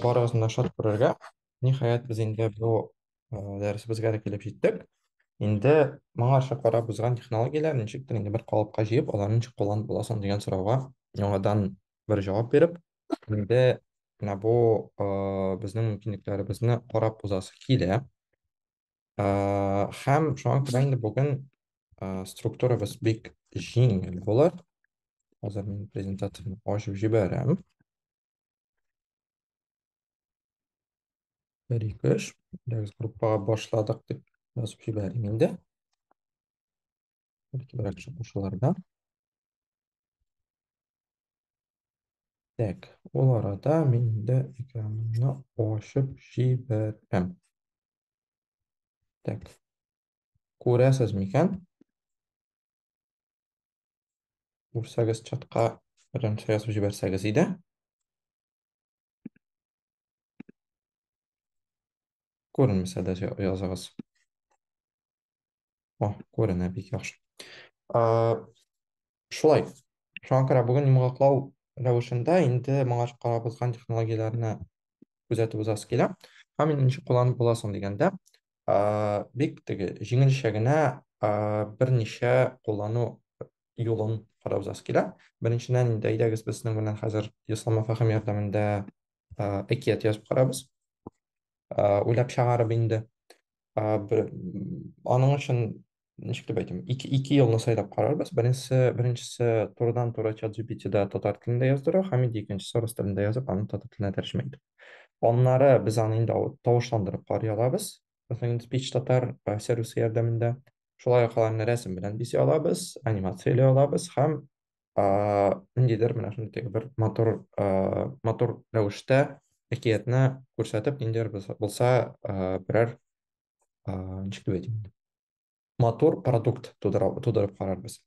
Барыгызны да шат күрергә. Ниһаять, без инде бу э, дәресебезгә дә килеп җиттек. Инде моңарча карап узган технологияләр ничектер инде бер калыпка җыеп, аларны ничек кулланып буласын дигән сорауга яңадан бер җавап биреп, инде менә бу э, безнең мөмкинлекләребезне карап узасы килә. Ә, һәм шуңа күрә инде бүген ә, структурабыз бик җиңел булыр. Хәзер мин презентацияне ачып җибәрәм. Бер ике өч. Дәрес группага башладык дип язып җибәрим инде. Бәлки берәр чыгышуларда. Так, ул арада мин инде экранымны ачып җибәрәм. Так. Күрәсез микән? Күрсәгез чатка беренче язып җибәрсәгез иде. Күренмәсә дә языгыз. О, күренә бик яхшы. Ә, шулай. Шуңа күрә бүген йомгаклау рәвешендә инде моңа карабызган технологияләрне күзәтеп узасы килә. Һәм мин ничек кулланып була соң дигәндә, ә, бик теге җиңелчә генә ә, берничә куллану юлын карап узасы килә. Беренчедән инде әйдәгез без сезнең белән хәзер Ислама Фәһим ярдәмендә ә, әкият язып карабыз. уйлап чыгарып инде бер аның өчен ничек дип әйтим ике ике юлны сайлап карарбыз беренчесе беренчесе турыдан туры чат gptда татар телендә яздыру һәм инде икенчесе рус телендә язып аны татар теленә тәрҗемә итү аннары без аны инде тавышландырып карый алабыз мәсәлән speech татар сервисы ярдәмендә шулай ук аларны рәсем белән бизи алабыз анимация эли алабыз һәм ниндидер менә шундый теге бер матур матур рәвештә әкиятне күрсәтеп ниндидер булса берәр ничек дип әйтим матур продукт тудырып, тудырып карарбыз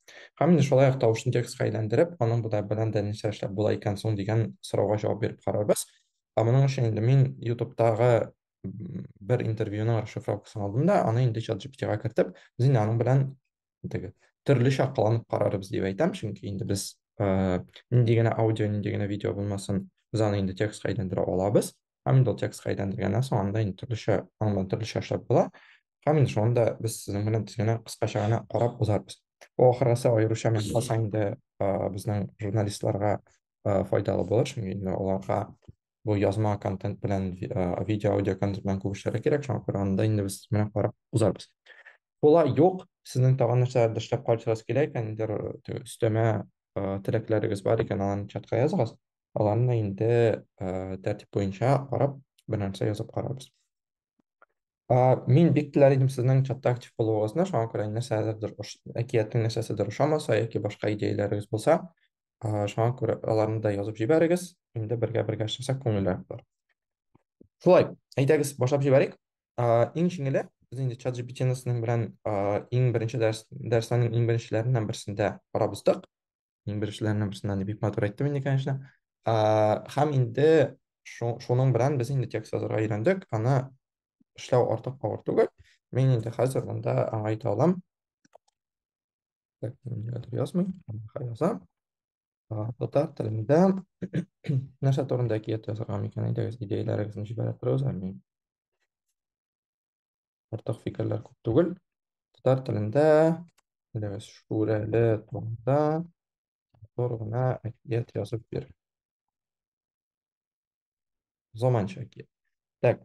һәм инде шулай ук тавышны текстка әйләндереп аның да белән дә нәрсә эшләп була икән соң дигән сорауга җавап биреп карарбыз ә моның өчен инде мин ютубтагы бер интервьюның расшифровкасын алдым да аны инде чат gpt-га кертеп без инде аның белән теге төрлечә кыланып карарбыз дип әйтәм, чөнки инде без нинди генә аудио, нинди генә видео булмасын, без аны инде текстка әйләндерә алабыз. Һәм инде ул текстка әйләндергәннән соң анда инде төрлечә аңлап, төрлечә эшләп була. Һәм инде шуны да без сезнең белән тиз генә кыскача гына карап узарбыз. Бу ахыргысы аеруча мин калса инде безнең журналистларга файдалы булыр, чөнки инде аларга бу язма контент белән видео аудио контент белән күп эшләргә кирәк шуңа күрә анда инде без менә карап узарбыз була юк сезнең тагын нәрсәләрдә эшләп кайтыгыз килә икән нидер өстәмә теләкләрегез бар икән аларны чатка языгыз аларны инде тәртип буенча карап бер нәрсә язып карарбыз А, мин бик теләр идем сезнең чатта актив булуыгызны, шуңа күрә нәрсәдер ош- әкиятнең нәрсәседер ошамаса яки башка идеяләрегез булса, а, шуңа күрә аларны да язып җибәрегез. Инде бергә-бергә эшләсәк күңеллерәк булыр. Шулай, әйдәгез, башлап җибәрик. А, Иң җиңеле, без инде чат GPT-ны сезнең белән а, иң беренче дәрес, дәресләрнең иң беренчеләреннән берсендә карап уздык. Иң беренчеләрнең берсеннән дип бик матур әйттем инде, конечно. А, һәм инде шу- шуның белән без инде текст язарга өйрәндек. Аны эшләү артык авыр түгел. Мин инде хәзер монда аңа әйтә алам. Так, мин нигәдер язмыйм, аңа язам. А, Татар телендә нәрсә турында әкият язарга микән? Әйдәгез, идеяләрегезне җибәрә торыгыз, ә мин Артык фикерләр күп түгел. Татар телендә Әйдәгез, шүрәле турында матур гына әкият язып бир. Заманча әкият. Так,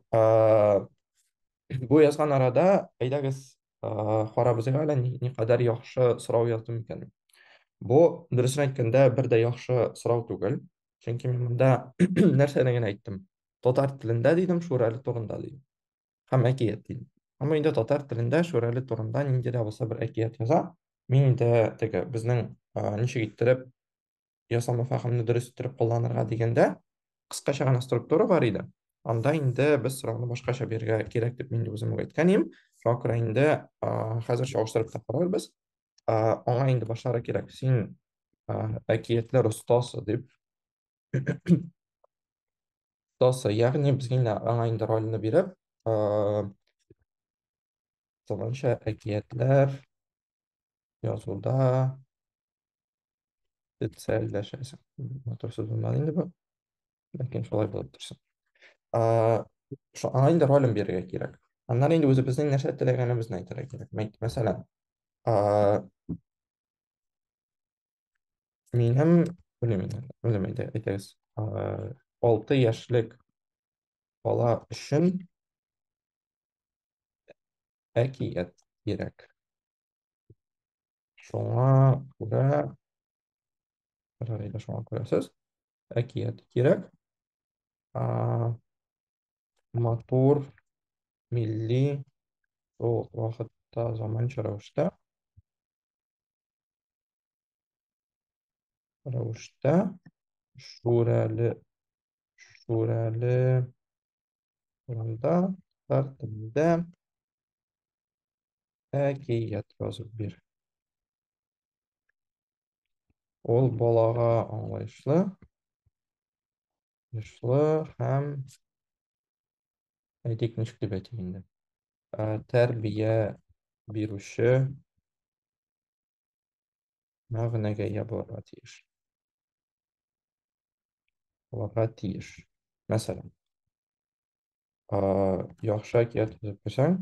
бу язган арада, әйдәгез, карабыз әле никадәр яхшы сорау яздым икән. Бу, дөресен әйткәндә, бер дә яхшы сорау түгел. Чөнки мин монда нәрсәне генә әйттем? Татар телендә дидем, шүрәле турында дидем. һәм әкият дин. Әмма инде татар телендә Шүрәле турында нинди дә булса бер әкият яза. Мин инде теге безнең ничек иттереп ясалма фәһемне дөрес иттереп кулланырга дигәндә, кыскача гына структура бар иде. Анда инде без сорауны башкача бирергә кирәк дип мин үзем үк әйткән идем. Шуңа күрә инде хәзер чагыштырып та карарбыз. Аңа инде башлары кирәк. Син әкиятләр остасы дип Тасы, ягъни без генә аңа инде рольне биреп, Тыланча әкиятләр язуда специальләшәсең. Матур сүз булмады инде бу. Ләкин шулай булып торсын. Шо аңа инде ролен бирергә кирәк. Аннан инде үзебезнең нәрсә теләгәнебезне әйтергә кирәк. Мәсәлән, Минем, белмим, белмим инде, әйтегез. Э, Алты яшьлек бала өчен әкият кирәк. Шуңа күрә, Рәйлә, шуңа күрә сез әкият кирәк. А, Матур, милли, шул вакытта заманча рәвештә. рәвештә шүрәле шүрәле урында татар телендә әкият язып бир ул балага аңлаешлы Нышлы һәм әйтик ничек дип әйтик инде. Ә, Тәрбия бирүче мәгънәгә ия булырга тиеш. Булырга тиеш. Мәсәлән, а, яхшы әкият төзеп куйсаң,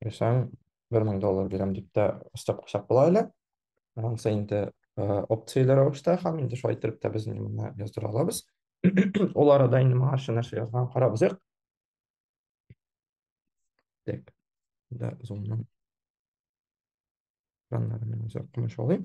Бирсәң, бер мең доллар бирәм дип тә өстәп куйсак була әле. Ансы инде опцияле рәвештә һәм инде шулай итеп тә без моны яздыра алабыз. Ул арада инде моңарчы нәрсә язган карабыз як. Так, да, зумның. Данларны үзәк кумыш алыйм.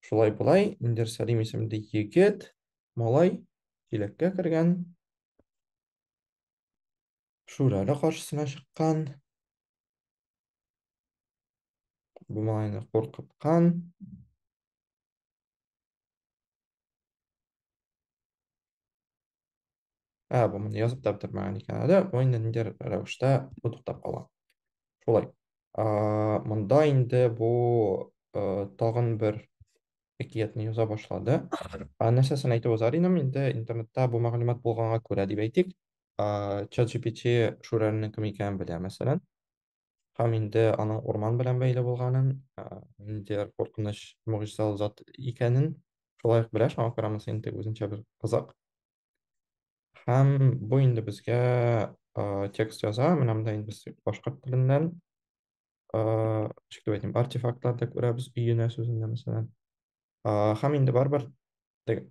Шулай болай, Индер Сәлим исемле егет, малай, киләккә кергән. Шүрәле каршысына чыккан. Бу малайны куркыткан. ә бу міне язып та бетермәгән икән әле бу инде ниндидер рәвештә бу туктап кала шулай монда инде бу тагын бер әкиятне яза башлады нәрсәсен әйтеп узар инем инде интернетта бу мәгълүмат булганга күрә дип әйтик чат gpt шүрәленең кем икәнен белә мәсәлән һәм инде аның урман белән бәйле булганын, ә, ниндидер куркыныч могҗизалы зат икәнен шулай ук белә, шуңа күрә монысы инде үзенчә бер кызык. Һәм бу инде безгә ә, текст яза, менә монда инде без башкорт теленнән ә, ничек дип әйтим, артефактлар да күрәбез, өенә сүзендә мәсәлән. Ә, һәм инде барыбер теге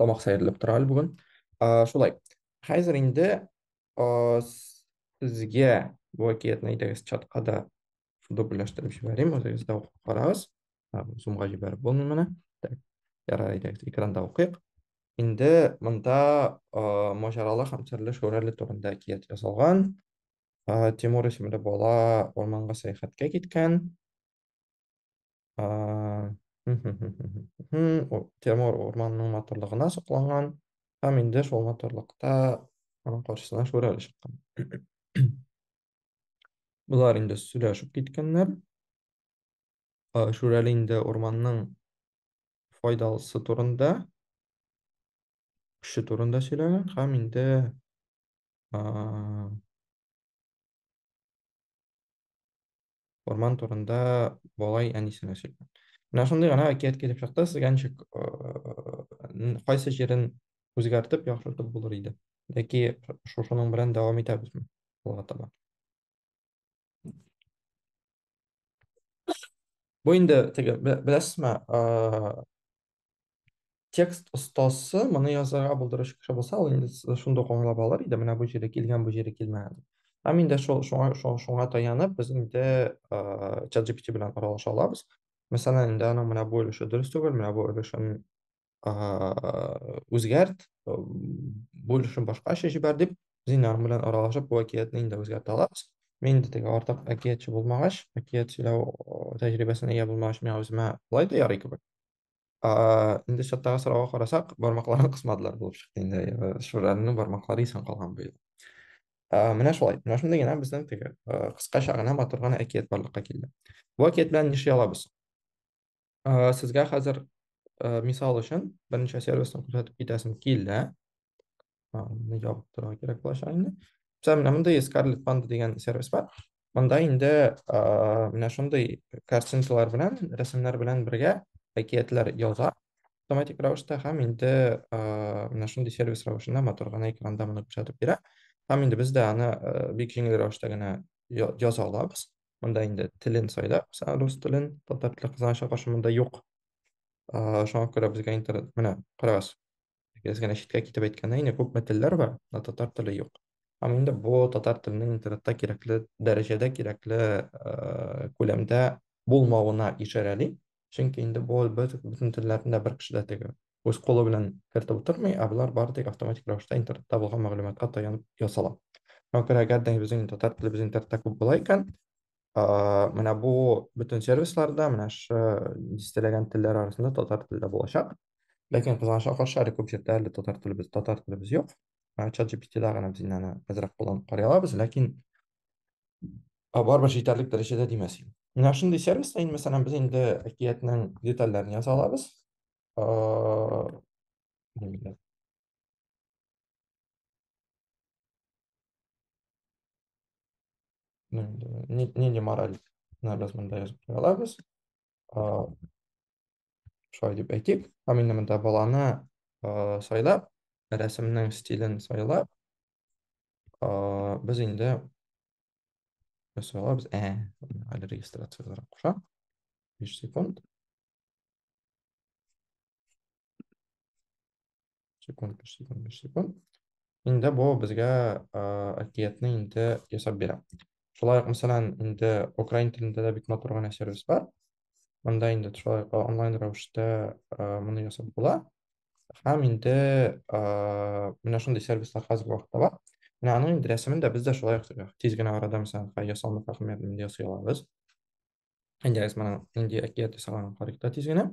тамак сәерләп тора әле бүген. Шулай. Хәзер инде сезгә бу әкиятне әйдәгез чатка да дубльләштереп җибәрим, үзегез дә укып карагыз. Зумга җибәреп булмый моны. Так, ярар, әйдәгез экранда укыйк. Инде монда маҗаралы һәм серле Шүрәле турында әкият язылган. Тимур исемле бала урманга сәяхәткә киткән. Тимур урманның матурлыгына сокланган һәм инде шул матурлыкта аның каршысына шүрәле чыккан. Болар инде сөйләшеп киткәннәр. Шүрәле инде урманның файдалысы турында, көче турында сөйләгән һәм инде урман турында бабай әнисенә сөйләгән. Менә шундый гына әкият килеп чыкты, сезгә ничек кайсы җирен үзгәртеп яхшыртып булыр иде? Яки шушының белән дәвам итәбезме алга таба? Бу инде теге беләсезме, текст остасы моны язарга булдырыч кеше булса, ул инде шунда ук аңлап алыр иде, менә бу җире килгән, бу җире килмәгән дип. Һәм инде шул шуңа шуңа таянып без инде чат GPT белән аралаша алабыз. Мәсәлән, инде аның менә бу өлеше дөрес түгел, менә бу өлешен үзгәрт, бу өлешен башкача җибәр дип, без инде аның белән аралашып, бу әкиятне инде үзгәртә алабыз. Мин инде теге артык әкиятче булмагач, әкият сөйләү тәҗрибәсенә ия булмагач, миңа үземә болай да ярый кебек. инде чаттагы сорауга карасак, бармакларын кысмадылар булып чыкты инде. Э, Шүрәлнең бармаклары исән калган быел. Ә, менә шулай. Менә шундый генә безнең теге э, кыскача гына матур гына әкият барлыкка килде. Бу әкият белән нишли алабыз? Ә, сезгә хәзер э, мисал өчен берничә сервисны күрсәтеп китәсем килә. Аны ябып торырга кирәк булачак инде. Мисал, менә монда есть Scarlet Panda дигән сервис бар. Монда инде менә шундый картинкалар белән, рәсемнәр белән бергә әкиятләр яза автоматик рәвештә һәм инде менә шундый сервис рәвешендә матур гына экранда моны күрсәтеп бирә. Һәм инде без дә аны бик җиңел рәвештә генә яза алабыз. Монда инде телен сайлап, рус телен, татар теле кызганычка каршы монда юк. Шуңа күрә безгә интернет, менә карагыз, Без генә читкә китеп әйткәндә, инде күпме телләр бар, ә татар теле юк. Һәм инде бу татар теленең интернетта кирәкле дәрәҗәдә, кирәкле э, күләмдә булмавына ишарәли. Чөнки инде бу бөт- бөтен телләрне дә бер кеше дә теге үз кулы белән кертеп утырмый, ә болар бары тик автоматик рәвештә интернетта булган мәгълүматка таянып ясала. Шуңа күрә әгәр дә безнең татар телебез интернетта күп була икән, а, менә бу бөтен сервисларда, менә шы дистәләгән телләр арасында татар теле дә булачак. Ләкин кызганычка каршы, әле күп җирдә әле татар телебез, татар телебез юк. Чат GPT-да гына без инде аны әзрәк кулланып карый алабыз, ләкин барыбер җитәрлек дәрәҗәдә димәс идем. Менә шундый сервиста инде, мәсәлән, без инде әкиятнең детальләрен яза алабыз. Нинди мораль, без монда язып куя алабыз. шулай дип әйтик ә менә монда баланы ә, сайлап рәсемнең стилен сайлап ә, без инде сайлабыз ә әле регистрацияләр куша 5 секунд Секунд, биш секунд, биш секунд. Инде бу безгә әкиятне инде ясап бирә. Шулай ук, мәсәлән, инде украин телендә дә бик матур гына сервис бар. Монда инде шулай ук онлайн рәвештә моны ясап була. Һәм инде менә шундый сервислар хәзерге вакытта бар. Менә аның инде рәсемен дә без дә шулай ук тиз генә арада, мәсәлән, ясалма хакимиятен инде ясый алабыз. Әйдәгез, моның инде әкият ясаганын карыйк та тиз генә.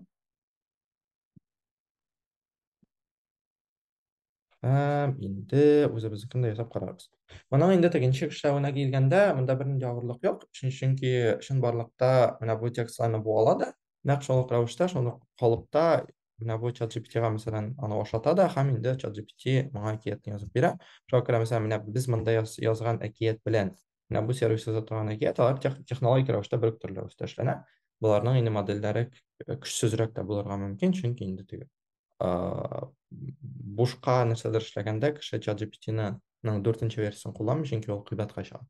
Һәм инде үзебезнекен дә ясап карарбыз. Моның инде тегенче эшләвенә килгәндә, монда бернинди авырлык юк, чөнки чынбарлыкта менә бу текстларны бу ала да, нәкъ шул ук рәвештә, шул ук калыпта менә бу ChatGPT-га, мәсәлән, аны ашата да, һәм инде ChatGPT моңа әкиятне язып бирә. Шуңа күрә, мәсәлән, менә без монда язган әкият белән менә бу сервисы за торган әкият алар технологик рәвештә бер үк төрле рәвештә эшләнә боларның инде модельләре көчсезрәк тә булырга мөмкин чөнки инде теге бушка нәрсәдер эшләгәндә кеше чат gpt-ның дүртенче версиясын кулланмый чөнки ул кыйбатка чыга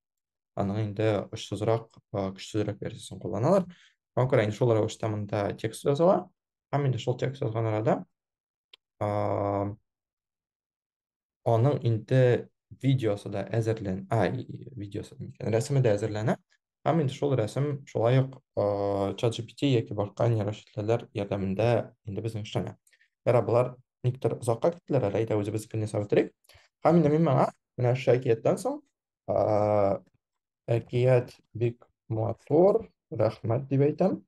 аның инде очсызрак көчсезрәк версиясын кулланалар шуңа күрә инде шул рәвештә монда текст языла һәм инде шул текст язган арада аның инде видеосы да әзерлән, ай, видеосы микән, рәсеме дә әзерләнә. Һәм инде шул рәсем шулай ук ChatGPT яки башка нейрочисләләр ярдәмендә инде безнең эшләнә. Ярар, болар никтер озакка киттеләр, әле әйдә үзебез кенә сабытрыйк. Һәм инде мин моңа менә шул әкияттән соң әкият бик матур, рәхмәт дип әйтәм.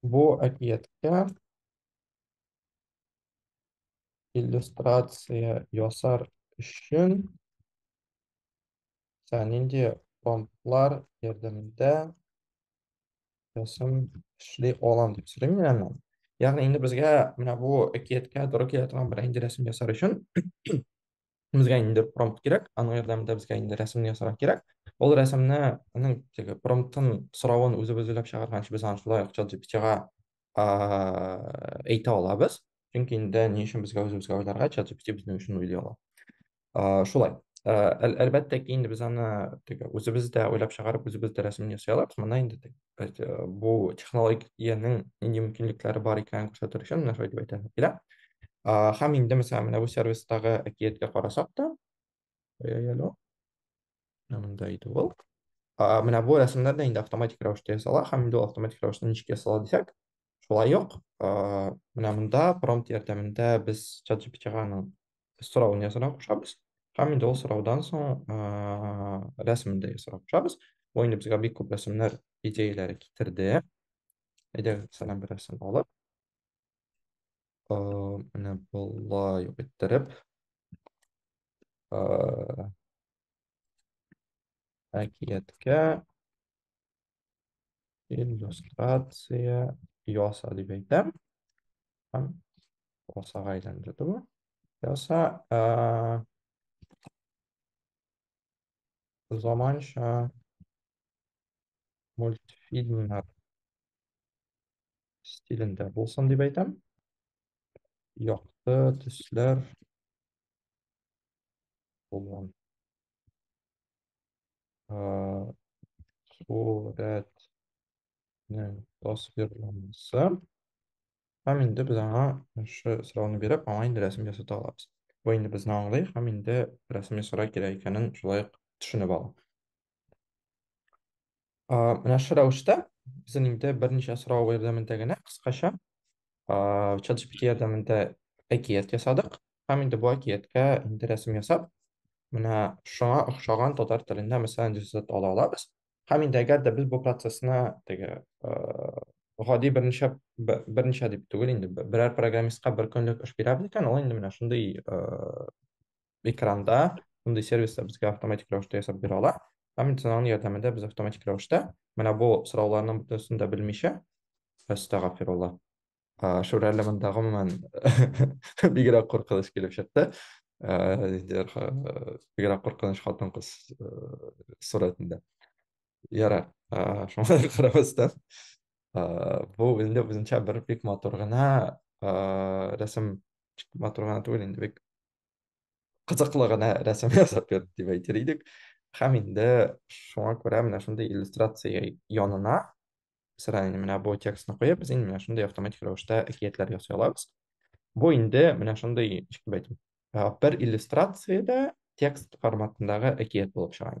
Бу әкияткә иллюстрация ясар өчен нинди промптлар ярдәмендә рәсем эшли алам дип сөйлим мин аны. Ягъни инде безгә менә бу әкияткә туры килә торган бер инде рәсем ясар өчен безгә инде промпт кирәк, аның ярдәмендә безгә инде рәсемне ясарга кирәк. Ул рәсемне аның теге промптын соравын үзебез уйлап чыгарганчы без аны шулай акча GPT-га әйтә алабыз. Чөнки инде ни өчен безгә үзебезгә уйларга, чат GPT безнең өчен уйлый ала. Шулай. Әлбәттә ки, инде без аны теге үзебез дә уйлап чыгарып, үзебез дә рәсемне ясый алабыз. Монда инде э, бу технологиянең нинди мөмкинлекләре бар икәнен күрсәтер өчен менә шулай дип әйтә килә. Һәм инде мәсәлән менә бу сервистагы әкияткә карасак та, әлло. Монда иде ул. Менә бу рәсемнәр дә инде автоматик рәвештә ясала һәм инде автоматик рәвештә ничек ясала дисәк, шулай ук ә, менә монда промпт ярдәмендә без чат GPT-ганың соравын язырга кушабыз һәм инде ул сораудан соң ә, рәсемен дә ясарга кушабыз бу инде безгә бик күп рәсемнәр идеяләре китерде әйдәгез мәсәлән бер рәсем алып ә, менә болай ук иттереп ә, әкияткә Иллюстрация яса дип әйтәм. Һәм ясага әйләнде бу. Яса ә, заманча мультфильмнар стилендә булсын дип әйтәм. Якты төсләр булган. сурәтнең тасвирланмасы һәм инде без аңа шы сорауны биреп аңа инде рәсем ясата алабыз бу инде безне аңлый һәм инде рәсем ясарга кирәк икәнен шулай ук төшенеп ала Менә шушы рәвештә безнең инде берничә сорау ярдәмендә генә кыскача ChatGPT ярдәмендә әкият ясадык һәм инде бу әкияткә инде рәсем ясап, менә шуңа охшаган татар телендә мәсәлән рисунок ала алабыз. Һәм инде әгәр дә без бу процессны теге гади берничә берничә дип түгел инде берәр программистка бер көнлек эш бирәбез икән, ул инде менә шундый экранда шундый сервислар безгә автоматик рәвештә ясап бирә ала һәм медицинаның ярдәмендә без автоматик рәвештә менә бу сорауларның бөтенесен дә белмичә әстәгафирулла шүрәле монда гомумән бигрәк куркыныч килеп чыкты бигрәк куркыныч хатын кыз сурәтендә ярар шуңа карабастан бу инде үзенчә бер бик матур гына рәсем матур гына түгел инде бик кызыклы гына рәсем ясап ят дип әйтер идек. Һәм инде шуңа күрә менә шундый иллюстрация янына сыра инде менә бу текстны куеп, без инде менә шундый автоматик рәвештә әкиятләр ясый алабыз. Бу инде менә шундый, ничек дип әйтим, бер иллюстрациядә текст форматындагы әкият булып чыга.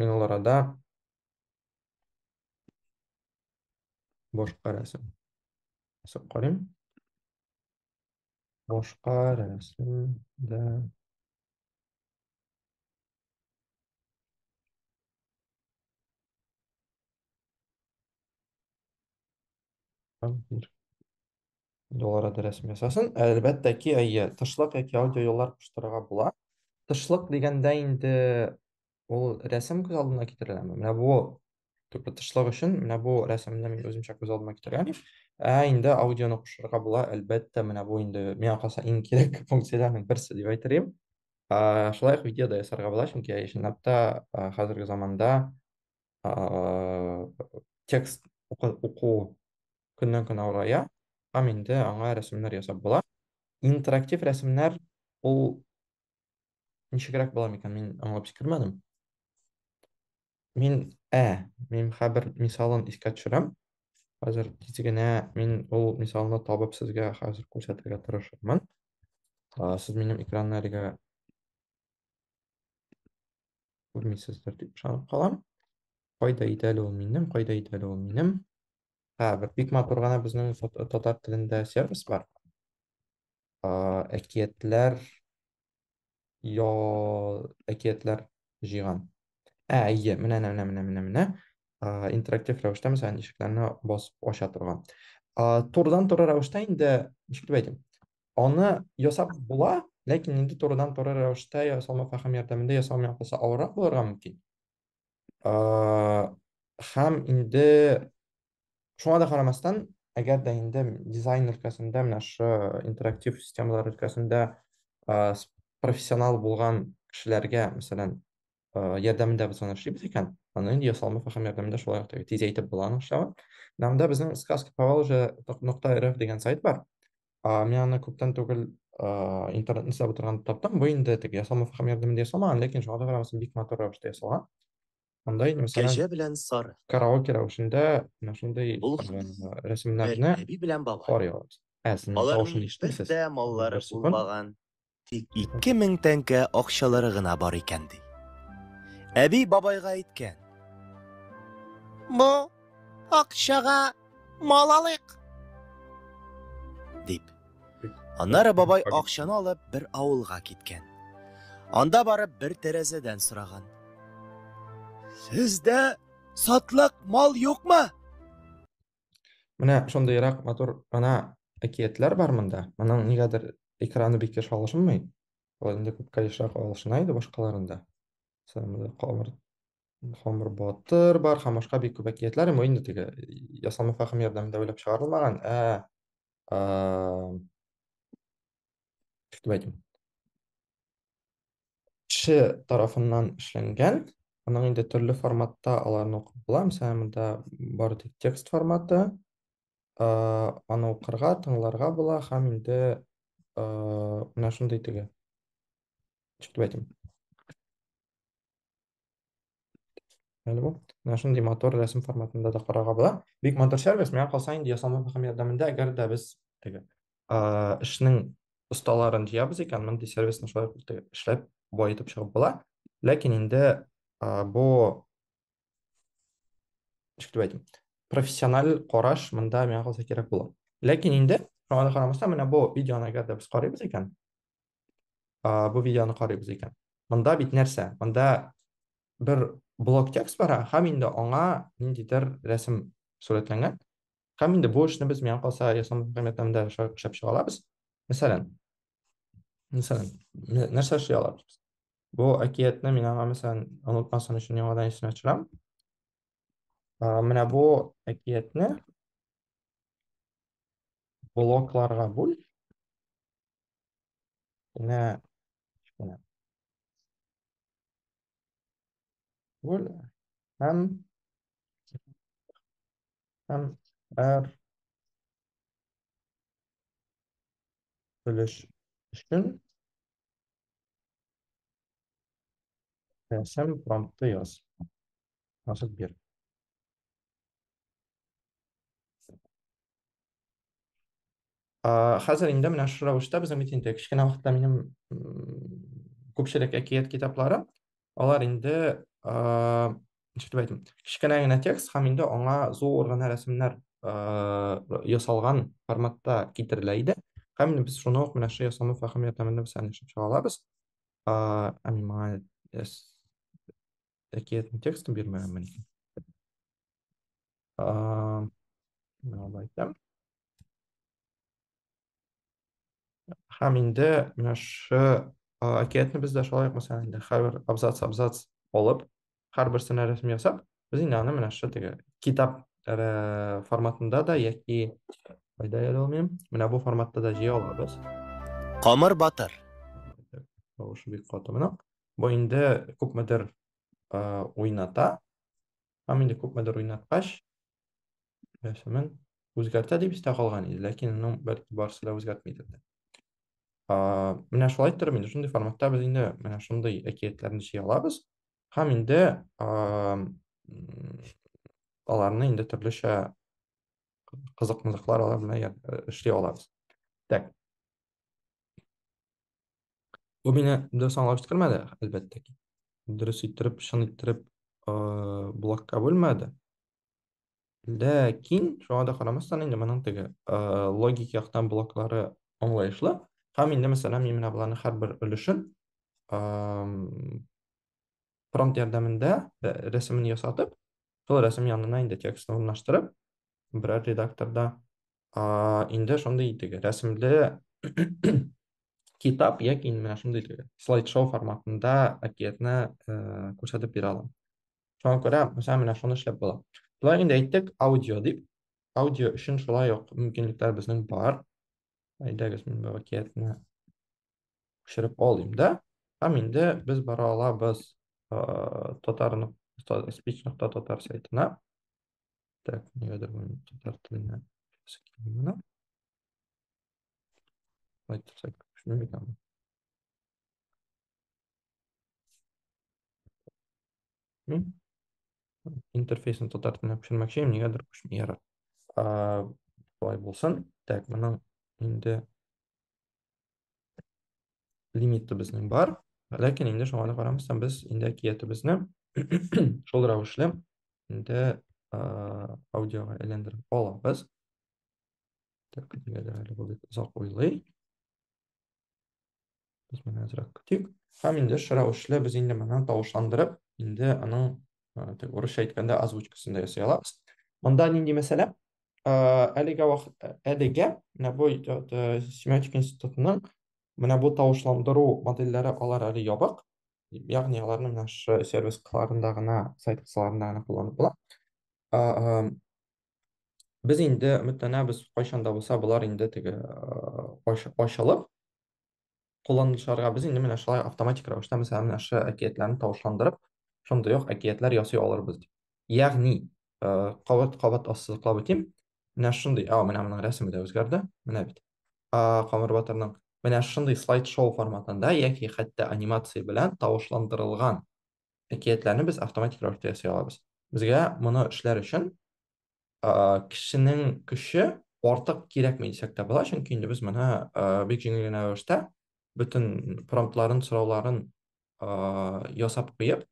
Мин ул арада башка рәсем ясап карыйм. Башка рәсем дә Там мир. Югарыда рәсем ясасын. Әлбәттә ки, әйе, тышлык яки аудиоюллар куштырырга була. Тышлык дигәндә инде ул рәсем күз алдына китереләме? Менә бу төпле тышлык өчен менә бу рәсемне мин үземчә күз алдыма китерәм. Ә инде аудионы кушырырга була, әлбәттә, менә бу инде миңа калса иң кирәк функцияләрнең берсе дип әйтерлим. Ә, шулай ук видео да ясарга була, чөнки чынлап та ә, хәзерге заманда ә, текст уку, уку көннән-көн авырая һәм инде аңа рәсемнәр ясап була. Интерактив рәсемнәр ул ничегрәк була микән? Мин аңлап сикермәдем. Мин ә, мин хәбер мисалын искә төшерәм. Хәзер тиз генә мин ул мисалны табып сезгә хәзер күрсәтергә тырышырмын. Сез минем экранны әлегә күрмисездер дип ышанып калам. Кайда иде әле ул минем, кайда иде әле ул минем? Ә, бер бик матур гына безнең татар телендә сервис бар. Ә, әкиятләр я әкиятләр җыйган. Ә, әйе, менә менә менә менә менә. Ә, интерактив рәвештә мәсәлән ишекләрне басып ача торган. Ә, турыдан туры рәвештә инде ничек дип әйтим? Аны ясап була, ләкин инде турыдан туры рәвештә ясалма фәһем ярдәмендә ясалмый калса авыррак булырга мөмкин. һәм инде шуңа да карамастан әгәр дә инде дизайн өлкәсендә менә шы интерактив системалар өлкәсендә профессионал булган кешеләргә мәсәлән ярдәмендә без аны эшлибез икән аны инде ясалма фәһем ярдәмендә шулай ук тизәйтеп була аның эшләвен анда безнең сказки поволжья нокта рф дигән сайт бар А, мин аны күптән түгел а, интернетны эзләп утырганда таптым. Бу инде теге ясалма фәһем ярдәмендә ясалмаган, ләкин шуңа да карамастан бик матур рәвештә ясалган. Анда инде мәсәлән Кәҗә белән сары. караоке рәвешендә менә шундый Ул а, бер рәсемнәрне әби белән бабай. карый алабыз. Ә, син тавышын Аларның бер ишетмисез. дә маллары Бер секунд. булмаган. Тик ике мең тәңкә акчалары гына бар икән, ди. Әби бабайга әйткән. Бу акчага мал алыйк. Дип. Аннары бабай акчаны алып бер авылга киткән. Анда барып бер тәрәзәдән сораган. Сездә сатлык мал юкмы? Менә шундыйрак матур гына әкиятләр бар монда. Моның нигәдер экраны бик еш алышынмый. Ул инде күпкә ешрак алышына иде башкаларында. Сәмле камыр Хамыр батыр бар, һәм башка бик күп әкиятләр, ул инде теге ясалма фәһем ярдәмендә уйлап чыгарылмаган, ә Кертмәдем. Кеше тарафыннан эшләнгән. Аның инде төрле форматта аларны укып була. Мәсәлән, монда бар тик текст форматы. Э, аны укырга, тыңларга була һәм инде э, менә шундый теге. Чиктәтим. Әле бу. Менә шундый мотор рәсем форматында да карарга була. Бик матур сервис. Миңа калса инде ясалма һәм ярдәмендә, әгәр дә без теге эшнең осталарын җыябыз икән, мондый сервисны шулай эшләп баетып чыгып була. Ләкин инде бу ничек дип әйтим, профессиональ караш монда миңа калса кирәк була. Ләкин инде шуңа да карамастан, менә бу видеоны әгәр дә без карыйбыз икән, бу видеоны карыйбыз икән. Монда бит нәрсә? Монда бер блок текст бара, һәм инде аңа ниндидер рәсем сурәтләнгән. Һәм инде бу эшне без миңа калса ясалма программированиедә эшләп чыга алабыз. Мәсәлән, мәсәлән, нәрсә эшли алабыз без? Бу әкиятне мин аңа мәсәлән онытмасын өчен яңадан исенә төшерәм. Менә бу әкиятне блокларга бүл. Менә кечкенә. Бүл һәм һәм әр өлеш өчен рәсем промпты яз. Язып бир. Ә, хәзер инде менә шушы рәвештә безнең бит инде кечкенә вакытта минем күпчелек әкият китаплары, алар инде, ә, ничек дип әйтим, кечкенә генә текст һәм инде аңа зур гына рәсемнәр, ә, ясалган форматта китерелә иде. Һәм инде без шуны ук менә шушы ясалма фәһем ярдәмендә без аны чыга алабыз. Ә, ә миңа әкиятнең текстын бирмәгәнмен икән. А, менә алай итәм. Һәм инде менә шу әкиятне без дә шулай ук мәсәлән инде һәр абзац абзац алып, һәрберсенә рәсем ясап, без инде аны менә шу теге китап э, форматында да яки кайда яли алмыйм, менә бу форматта да җыя алабыз. Камыр батыр. Тавышы бик каты моның. Бу инде күпмедер э, уйната. Һәм инде күпмедер уйнаткач, рәсемен үзгәртә дип истә калган иде, ләкин ну, бәлки барысы да үзгәртмидер дә. Менә шулай торып, инде шундый форматта без инде менә шундый әкиятләрне җыя алабыз. Һәм инде аларны инде төрлечә кызык-мызыклар алар белән эшли алабыз. Так. Бу мине дөрес аңлап җиткермәде, әлбәттә ки. Дөрес иттереп, чын иттереп блокка бүлмәде. Ләкин, шуңа да карамастан, инде моның теге логик яктан блоклары аңлаешлы. Һәм инде, мәсәлән, мин менә боларның һәрбер өлешен промпт ярдәмендә рәсемен ясатып, шул рәсем янына инде текстны урнаштырып, берәр редакторда инде шундый итеге рәсемле китап яки менә шундый итеге слайд-шоу форматында әкиятне э, күрсәтеп бирә алам. Шуңа күрә, мәсәлән, менә шуны эшләп була. Болай инде әйттек, аудио дип. Аудио өчен шулай ук мөмкинлекләр безнең бар. Әйдәгез, мин бу әкиятне Күчереп алыйм да. Һәм инде без бара алабыз татар speech нокта татар сайтына. Так, нигәдер мин татар теленә килгән менә. Айтсак, шуны Интерфейсны татар теленә күчермәкче, нигәдер күчми ярар. Болай булсын. Так, моның инде лимит төбезнең бар. Ләкин инде шуңа да карамастан без инде әкият төбезне шул рәвешле инде аудиога әйләндереп алабыз. Так, нигәдер әле бу бит озак уйлый. Без менә азрак көтик. Һәм инде шул рәвешле без инде моны тавышландырып, инде аның урысча әйткәндә озвучкасын да ясый алабыз. Монда нинди мәсьәлә? әлегә вакыт әлегә менә бу семиотик институтының менә бу тавышландыру модельләре алар әле ябык ягъни аларны менә шы сервис кыларында гына сайт кысаларында гына кулланып була без инде өметләнәбез кайчан да булса болар инде теге ачылып кулланучыларга без инде менә шулай автоматик рәвештә, мәсәлән, менә шы әкиятләрне тавышландырып, шундый ук әкиятләр ясый алырбыз дип. Ягъни, кабат-кабат ассызыклап үтим, менә шундый, а, менә моның рәсеме дә үзгәрде, менә бит, Камыр батырның. Менә шундый слайд-шоу форматында яки хәтта анимация белән тавышландырылган әкиятләрне без автоматик рәвештә ясый алабыз. Безгә моны эшләр өчен кешенең көче артык кирәкми дисәк тә була, чөнки инде без моны бик җиңел генә рәвештә бөтен промптларын, сорауларын ясап куеп,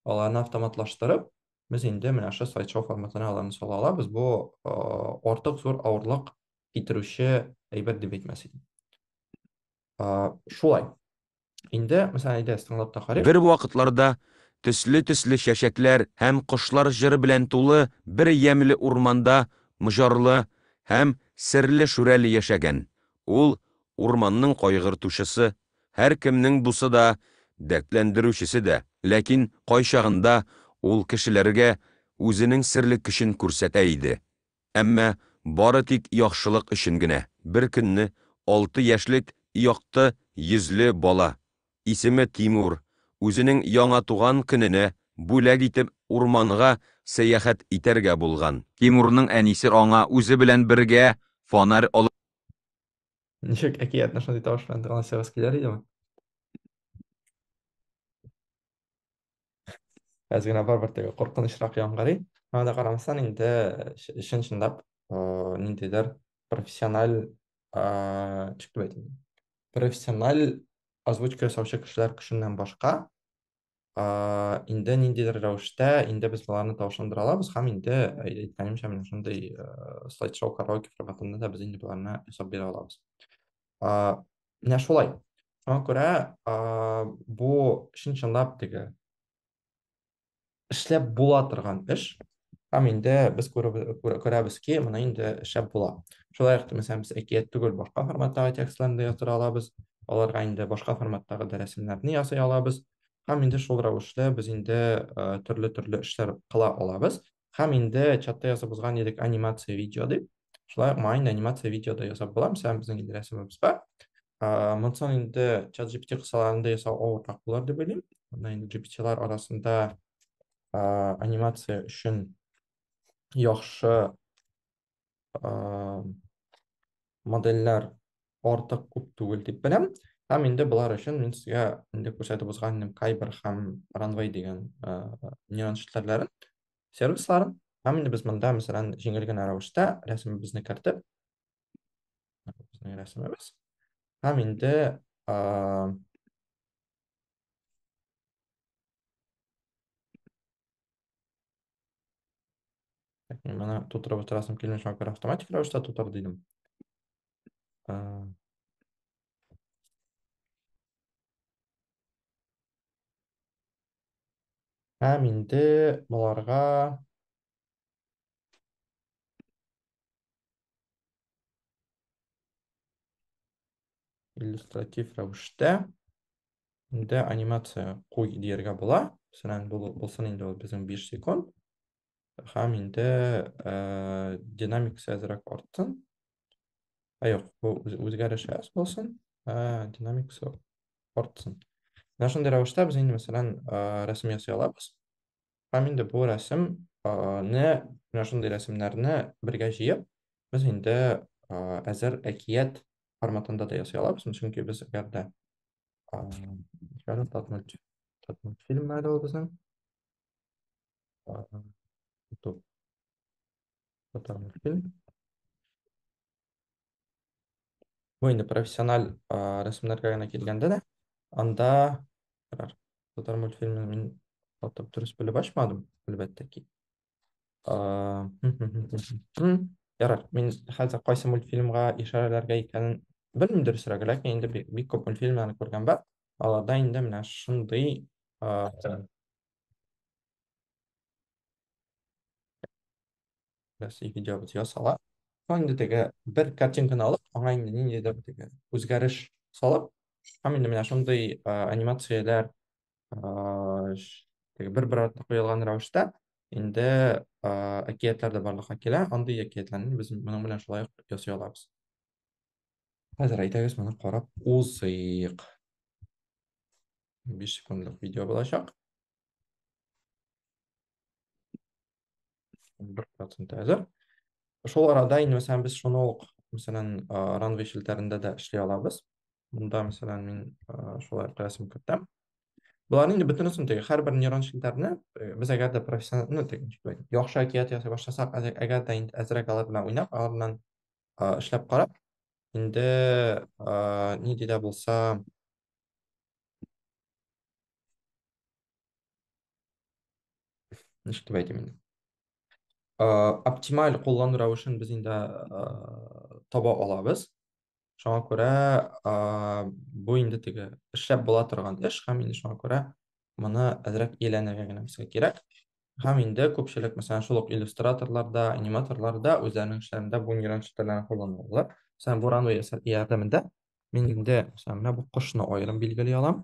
аларны автоматлаштырып, без инде менә шул слайдшоу форматына аларны сала алабыз. Бу артык зур авырлык китерүче әйбер дип әйтмәс идем. Шулай. Инде, мәсәлән, әйдә, стандарттан карыйк. Бер вакытларда төсле-төсле чәчәкләр һәм кошлар җыры белән тулы бер ямьле урманда Мҗарлы һәм серле Шүрәле яшәгән. Ул, урманның кайгыртучысы, һәркемнең дусы да, дәртләндерүчесе дә. Ләкин кайчагында ул кешеләргә үзенең серле көчен күрсәтә иде. Әмма бары тик яхшылык өчен генә. Бер көнне алты яшьлек якты йөзле бала, исеме Тимур, үзенең яңа туган көненә бүләк итеп урманга сәяхәт итәргә булган. Тимурның әнисе аңа үзе белән бергә фонарь алып. Ничек әкиятне шундый тавыш белән тыңласагыз килер идеме? әз генә барыбер теге куркынычрак яңгырый. Аңа да карамастан инде чын чынлап ниндидер профессиональ ничек дип әйтим профессиональ озвучка ясаучы кешеләр көченнән башка инде ниндидер рәвештә инде без аларны тавышландыра алабыз һәм инде әйткәнемчә менә шундый слайд шоу караоке форматында да без инде боларны ясап бирә алабыз Менә шулай. Шуңа күрә бу чын чынлап теге эшләп була торган эш. Һәм инде без күрәбез ки, моны инде эшләп була. Шулай ук мәсәлән без әкият түгел башка форматтагы текстларны да яза алабыз. Аларга инде башка форматтагы да рәсемнәрне ясый алабыз. Һәм инде шул рәвешле без инде төрле-төрле эшләр кыла алабыз. һәм инде чатта ясап узган идек анимация видео дип шулай майнд анимация видео да ясап була мәсәлән безнең инде рәсемебез бар монсын инде чат gpt кысаларында ясау авыррак булыр дип уйлыйм мына инде gptlар арасында анимация өчен яхшы модельләр артык күп түгел дип беләм. Һәм инде болар өчен мин сезгә инде күрсәтеп узган идем Kyber һәм Runway дигән нейрон челтәрләрен, сервисларын. Һәм инде без монда, мәсәлән, җиңел генә рәвештә рәсемебезне кертеп, безнең рәсемебез. Һәм инде Әкрем, Менә тутырып утырасым килми, шуңа күрә автоматик рәвештә тутыр дидем. Ә, Һәм инде боларга иллюстратив рәвештә инде анимация куй дияргә була. Мәсәлән, булсын инде ул безнең 5 секунд. Һәм инде э, динамикасы әзрәк артсын. Ә юк, бу үзгәреш әз булсын, ә динамикасы артсын. Менә шундый рәвештә без инде, мәсәлән, э, рәсем ясый алабыз. Һәм инде бу рәсем не менә шундый рәсемнәрне бергә җыеп, без инде әзер әкият форматында да ясый алабыз, чөнки без әгәр дә фильм әле ул безнең. Татмультфильм. Бу инде профессиональ рәсемнәргә генә килгәндә дә, анда карар. Татар мультфильмын мин атап дөрес белеп ачмадым, әлбәттә ки. Ярар, мин хәзер кайсы мультфильмга ишарәләргә икәнен белмим дөресрәге, ләкин инде бик, бик күп мультфильмнарны күргән бар. Аларда инде менә шундый Рәсми видео без ясала. Соң инде теге бер картинканы алып, аңа инде ниндидер теге үзгәреш салып, һәм инде менә шундый ә, анимацияләр ә, ш- теге бер-бер артына куелган рәвештә инде ә, әкиятләр дә барлыкка килә. Андый әкиятләрне без моның белән шулай ук ясый алабыз. Хәзер әйдәгез моны карап узыйк. 5 секундлык видео булачак. бер процент әзер шул арада инде мәсәлән без шуны ук мәсәлән ранвей челтәрендә дә эшли алабыз монда мәсәлән мин шулай рәсем кертәм боларның инде бөтенесен теге һәрбер нейрон челтәрне э, без әгәр дә профессионал ну яхшы әкият ясый башласак әгәр дә инде әзрәк алар белән уйнап алар белән эшләп карап инде ни дидә булса ничек дип әйтим инде оптималь куллану рәвешен без инде таба алабыз шуңа күрә бу инде теге эшләп була торган эш һәм инде шуңа күрә моны әзрәк ияләнергә генә безгә кирәк һәм инде күпчелек мәсәлән шул ук иллюстраторларда аниматорларда үзләренең эшләрендә бу нейрон челтәрләрен кулланалар мәсәлән бу ранвей ярдәмендә мин инде мәсәлән менә бу кошны аерым билгели алам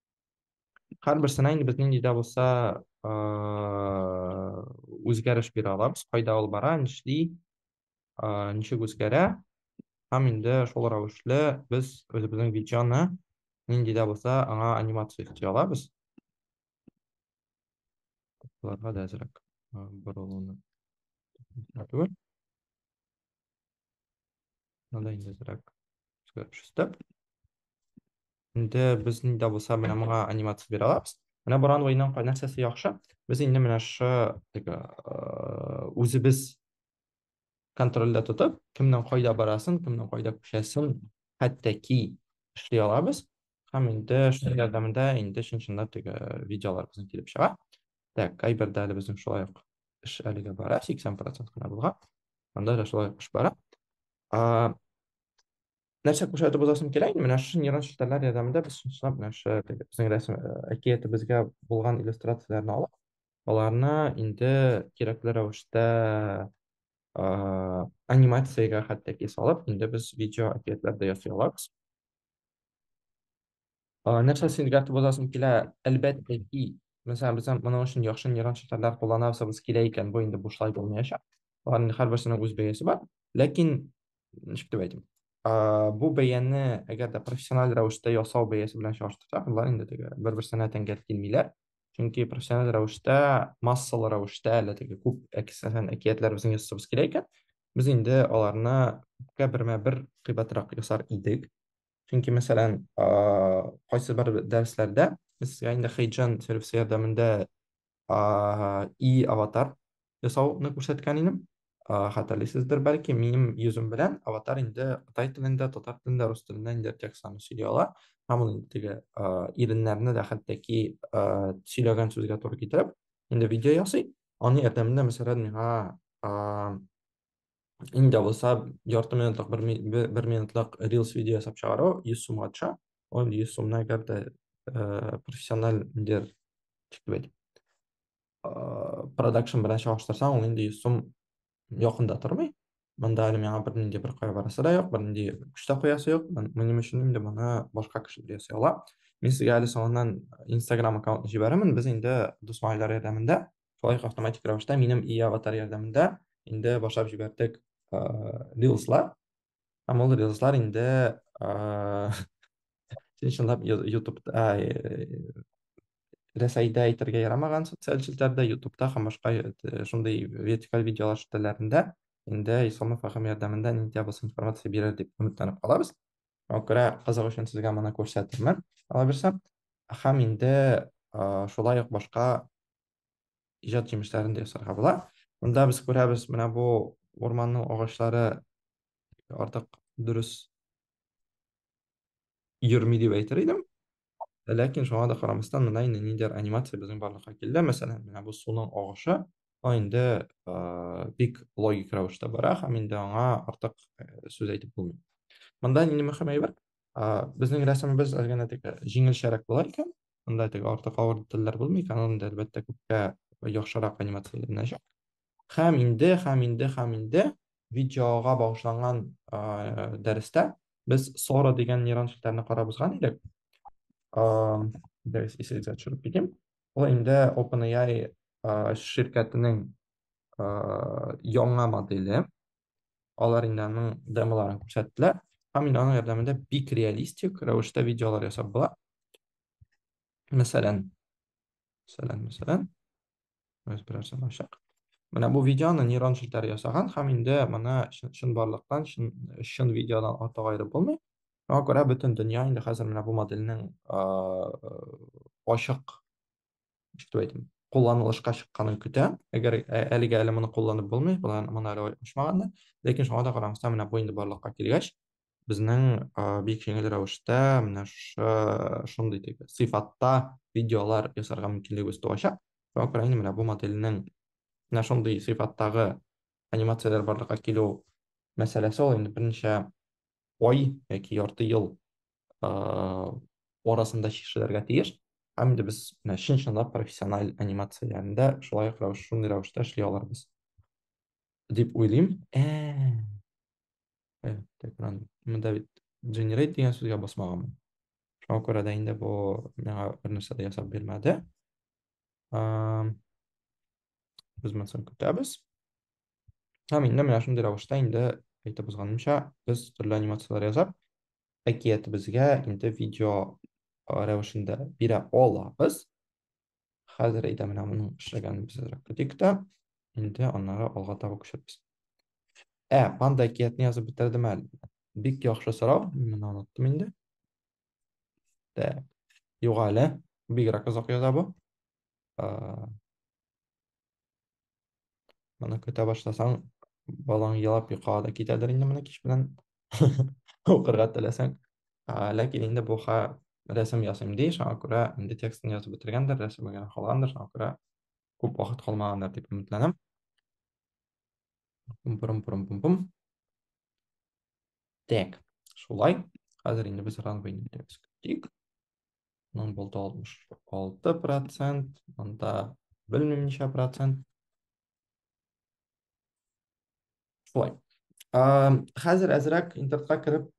һәрберсенә инде без нинди дә булса үзгәреш бирә алабыз кайда ул бара нишли ничек үзгәрә һәм инде шул рәвешле без үзебезнең видеоны нинди дә булса аңа анимация өсти алабыз боларга да әзрәк борылуны Надо инзрак. Шесте. Инде без нидә булса менә моңа анимация бирә алабыз. Менә бу ранвейның кай нәрсәсе яхшы? Без инде менә шы теге үзебез контрольдә тотып, кемнең кайда барасын, кемнең кайда күчәсен, хәтта ки эшли алабыз. Һәм инде шул ярдәмендә инде чын-чынлап теге видеолар безнең килеп чыга. Так, кайбердә әле безнең шулай ук эш әлегә бара, 80% кына булган. Анда да шулай ук эш бара. А, нәрсә күрсәтеп узасым килә инде, менә шушы нейрон челтәрләр ярдәмендә без чын-чынлап менә шушы теге безнең рәсем э, әкиятебезгә булган иллюстрацияләрне алып, аларны инде кирәкле рәвештә а, анимациягә хәтта ки салып, инде без видео әкиятләр дә ясый алабыз. Ә, нәрсә син өйрәтеп узасың килә? Әлбәттә ки, мәсәлән, без моның өчен яхшы нейрон челтәрләр кулланасыбыз килә икән, бу инде бушлай булмаячак. Аларның һәрберсенең үз бәясе бар. Ләкин, ничек дип әйтим, а, бу бәяне, әгәр дә профессиональ рәвештә ясау бәясе белән чагыштырсак, алар инде теге бер-берсенә тәңгәл килмиләр. чөнки профессиональ рәвештә массалы рәвештә әле теге күп әкисәһен әкиятләр безнең ясабыз килә икән без инде аларны күпкә бермә бер кыйбатрак ясар идек чөнки мәсәлән кайсы бер дәресләрдә без сезгә инде хейджан сервисы ярдәмендә и аватар ясауны күрсәткән идем. Хәтерлисездер бәлки, минем йөзем белән аватар инде кытай телендә, татар телендә, рус телендә инде текстларны сөйли ала. Һәм ул теге иреннәрне дә хәтта ки сөйләгән сүзгә туры китереп, инде видео ясый. Аның ярдәмендә, мәсәлән, миңа инде булса ярты минутлык, бер минутлык рилс видео ясап чыгару 100 сумга төшә. Ул 100 сумны әгәр дә профессиональ инде, ничек дип әйтим, продакшн белән чагыштырсаң ул нинди сум якында тормый мында әле миңа бернинди бер кая барасы да юк бернинди көч тә куясы юк минем өчен инде моны башка кешеләр ясый ала мин сезгә әле соңыннан инстаграм аккаунтын җибәрермен без инде дус малайлар ярдәмендә шулай ук автоматик рәвештә минем и аватар ярдәмендә инде башлап җибәрдек рилслар Ә мондый рилслар инде син чынлап ютубта рәсәйдә әйтергә ярамаган социаль челтәрдә ютубта һәм башка шундый вертикаль видеолар челтәрләрендә инде исламов агым ярдәмендә нинди булса информация бирер дип өметләнеп калабыз шуңа күрә кызык өчен сезгә моны күрсәтермен алабирса һәм инде шулай ук башка иҗат җимешләрен дә ясарга була. Монда без күрәбез, менә бу урманның агачлары артык дөрес йөрми дип әйтер идем. Ләкин шуңа да карамастан, менә инде ниндидер анимация безнең барлыкка килде. Мәсәлән, менә бу суның агышы, ул инде бик логик рәвештә бара һәм инде аңа артык сүз әйтеп булмый. Монда нинди мөһим әйбер? Безнең рәсемебез әлгә генә тик җиңелчәрәк була икән, Анда теге артык авыр детальләр булмый, Canon инде әлбәттә күпкә яхшырак анимацияләнәчәк. Һәм инде, һәм инде, һәм инде видеога багышланган дәрестә без Sora дигән нейрон челтәрне карап узган идек. Дәрес исегезгә төшереп китим. Ул инде OpenAI ширкәтенең яңа модели. Алар инде аның демоларын күрсәттеләр. Һәм мин аның ярдәмендә бик реалистик рәвештә видеолар ясап була. Мәсәлән, мәсәлән, мәсәлән, без берәрсен ачак. Менә бу видеоны нейрон челтәре ясаган һәм инде моны чын барлыктан, чын, чын видеодан артык аерып булмый. Шуңа күрә бөтен дөнья инде хәзер менә бу модельнең ачык ничек дип әйтим, кулланылышка чыкканын көтә. Әгәр әлегә әле моны кулланып булмый, моны әле ачмаганнар. Ләкин шуңа да карамастан, менә бу инде барлыкка килгәч, безнең бик җиңел рәвештә менә шундый дип сыйфатта видеолар ясарга мөмкинлегебез туачак. Шуңа күрә инде менә бу модельнең менә шундый сыйфаттагы анимацияләр барлыкка килү мәсьәләсе ул инде берничә ай яки ярты ел арасында чишелергә тиеш һәм инде без менә чын чынлап профессиональ анимацияләрендә шулай ук рәвеш шундый рәвештә эшли алырбыз дип уйлыйм монда бит generate дигән сүзгә басмаганмын шуңа күрә дә инде бу миңа бернәрсә дә ясап бирмәде без моны соң көтәбез һәм инде менә шундый рәвештә инде әйтеп узганымча без төрле анимацияләр ясап әкиятебезгә инде видео рәвешендә бирә алабыз. Хәзер әйдә менә моның эшләгәнебезрәк көтик тә, инде аннары алга таба күчербез. Ә, панда әкиятне язып бетердем әле. Бик яхшы сорау, мин оныттым инде. Так. Юк әле, бигрәк озак яза бу. Моны көтә башласаң, балаң елап йокыга да китәдер инде моны кич белән укырга теләсәң. Ләкин инде бу ха рәсем ясыйм ди, шуңа күрә инде текстын язып бетергәндер, рәсеме генә калгандыр, шуңа күрә күп вакыт калмагандыр дип өметләнәм. Пум-пурум-пурум-пум-пум. Так, шулай. Хәзер инде без ран бөйнәләребез көтик. Мын болды 66 процент, мында білмеймін неше процент. Солай. Хәзір әзірәк интертқа кіріп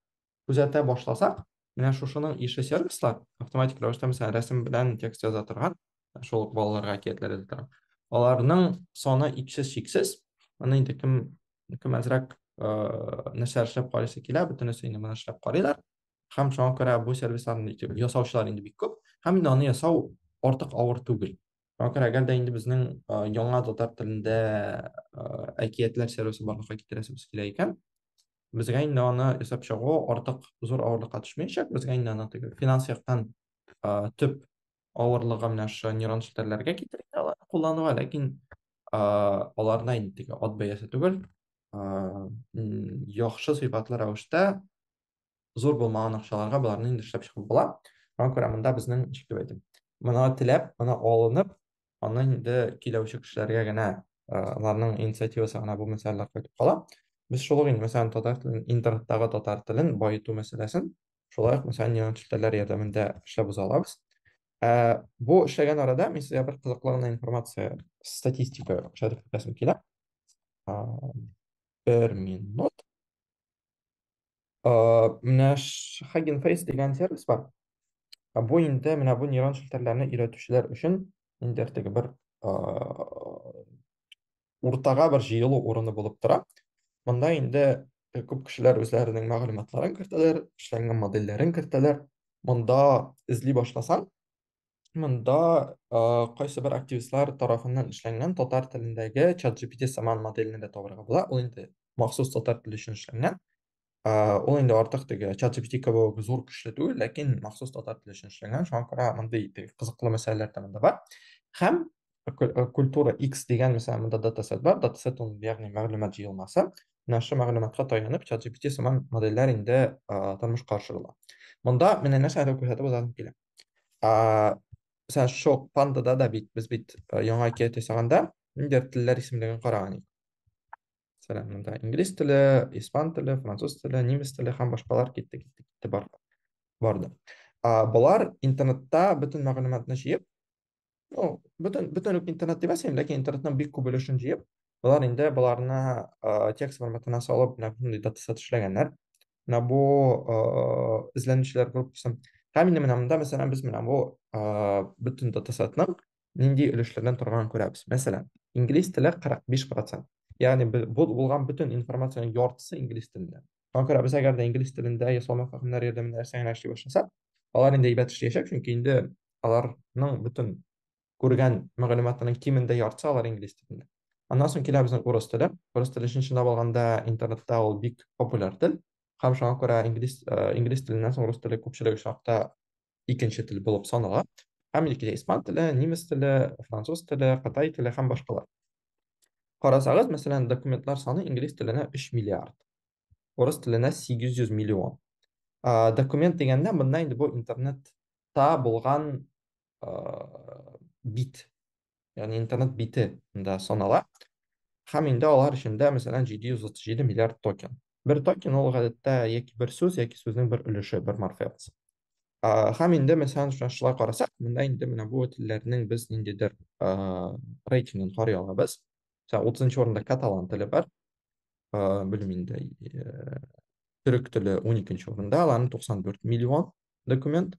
күзәтә башласақ, менә шушының ише сервислар, автоматик рәвештә мәсәлән рәсем белән текст яза торган, шул ук балаларга әкиятләр яза торган. Аларның саны иксез чиксез. Моны инде кем кем әзрәк нәрсә эшләп карыйсы килә, бөтенесе инде моны эшләп карыйлар. һәм шуңа күрә бу сервисларны ясаучылар инде бик күп һәм инде аны ясау артык авыр түгел шуңа күрә әгәр дә инде безнең яңа татар телендә әкиятләр сервисы барлыкка китерәсебез килә икән безгә инде аны ясап чыгу артык зур авырлыкка төшмәячәк безгә инде аны теге финанс яктан төп авырлыгы менә шушы нейрон челтәрләргә китерә алар куллануга ләкин аларда инде теге ат бәясе түгел яхшы сыйфатлы рәвештә зур булмаган акчаларга боларны инде эшләп чыгып була. Шуңа күрә монда безнең ничек дип әйтим, моны теләп, моны алынып, аны инде киләүче кешеләргә генә аларның инициативасы гына бу мәсьәләләр кайтып кала. Без шул ук инде, мәсәлән, татар телен, интернеттагы татар телен баету мәсьәләсен шулай ук, мәсәлән, юнәлтешләр ярдәмендә эшләп уза алабыз. Ә, бу эшләгән арада мин сезгә бер кызыклы гына информация, статистика күрсәтеп үтәсем килә. Бер минут. менә Hugging Face дигән сервис бар. Бу инде менә бу нейрон челтәрләрне өйрәтүчеләр өчен инде теге бер уртага бер җыелу урыны булып тора. Монда инде э, күп кешеләр үзләренең мәгълүматларын кертәләр, эшләнгән модельләрен кертәләр. Монда эзли башласаң, Монда э, кайсы бер активистлар тарафыннан эшләнгән татар телендәге ChatGPT сыман моделне дә табарга була. Ул инде махсус татар теле өчен эшләнгән. Э, ул инде артык теге ChatGPT кебек зур көчле түгел, ләкин махсус татар теле өчен эшләнгән. Шуңа күрә мондый теге кызыклы мәсьәләләр дә монда бар. Һәм ку- э, культура X дигән мәсәлән монда датасет бар. Датасет ул ягъни мәгълүмат җыелмасы. Менә шушы мәгълүматка таянып ChatGPT сыман модельләр инде э, тормышка ашырыла. Монда менә нәрсәне күрсәтеп узасым килә. ә, Сән шок пандада да бит без бит э, яңа әкият ясаганда ниндидер телләр исемлеген караган идек. Мәсәлән, монда инглиз теле, испан теле, француз теле, немец теле һәм башкалар китте, китте, китте бар. Барды. А, болар интернетта бөтен мәгълүматны җыеп, ну, бөтен, бөтен интернет димәс инде, ләкин интернетның бик күп өлешен җыеп, болар инде боларны ә, текст форматына салып, менә шундый датасет эшләгәннәр. Менә бу ә, эзләнүчеләр группасы. Һәм инде менә монда, мәсәлән, без менә бу ә, бөтен датасетның нинди өлешләрдән торганын күрәбез. Мәсәлән, инглиз теле 45%. Ягъни бу булган бөтен информациянең яртысы инглиз телендә. Шуңа күрә без әгәр дә инглиз телендә я салмак хакимнәр ярдәмендә нәрсә генә эшли башласак, алар инде әйбәт эшләячәк, чөнки инде аларның бөтен күргән мәгълүматының кимендә яртысы алар инглиз телендә. Аннан соң килә безнең урыс теле. Урыс теле өчен чынлап алганда интернетта ул бик популяр тел. Һәм шуңа күрә инглиз, э, инглиз теленнән соң урыс теле күпчелек очракта икенче тел булып санала. Һәм икенче испан теле, немец теле, француз теле, кытай теле һәм башкалар. Карасагыз, мәсәлән, документлар саны инглиз теленә 3 миллиард, урыс теленә 800 миллион. Ә, документ дигәндә монда инде бу интернетта булган ә, бит ягъни интернет бите да санала. Һәм инде алар эчендә, мәсәлән, 737 миллиард токен. Бер токен ул гадәттә яки бер сүз, яки сүзнең бер өлеше, бер морфемасы. Һәм инде, мәсәлән, шулай карасак, монда инде менә бу телләрнең без ниндидер рейтингын карый алабыз. Мәсәлән, 30 урында каталан теле бар. Белмим инде, төрек теле 12 урында, аларның 94 миллион документ.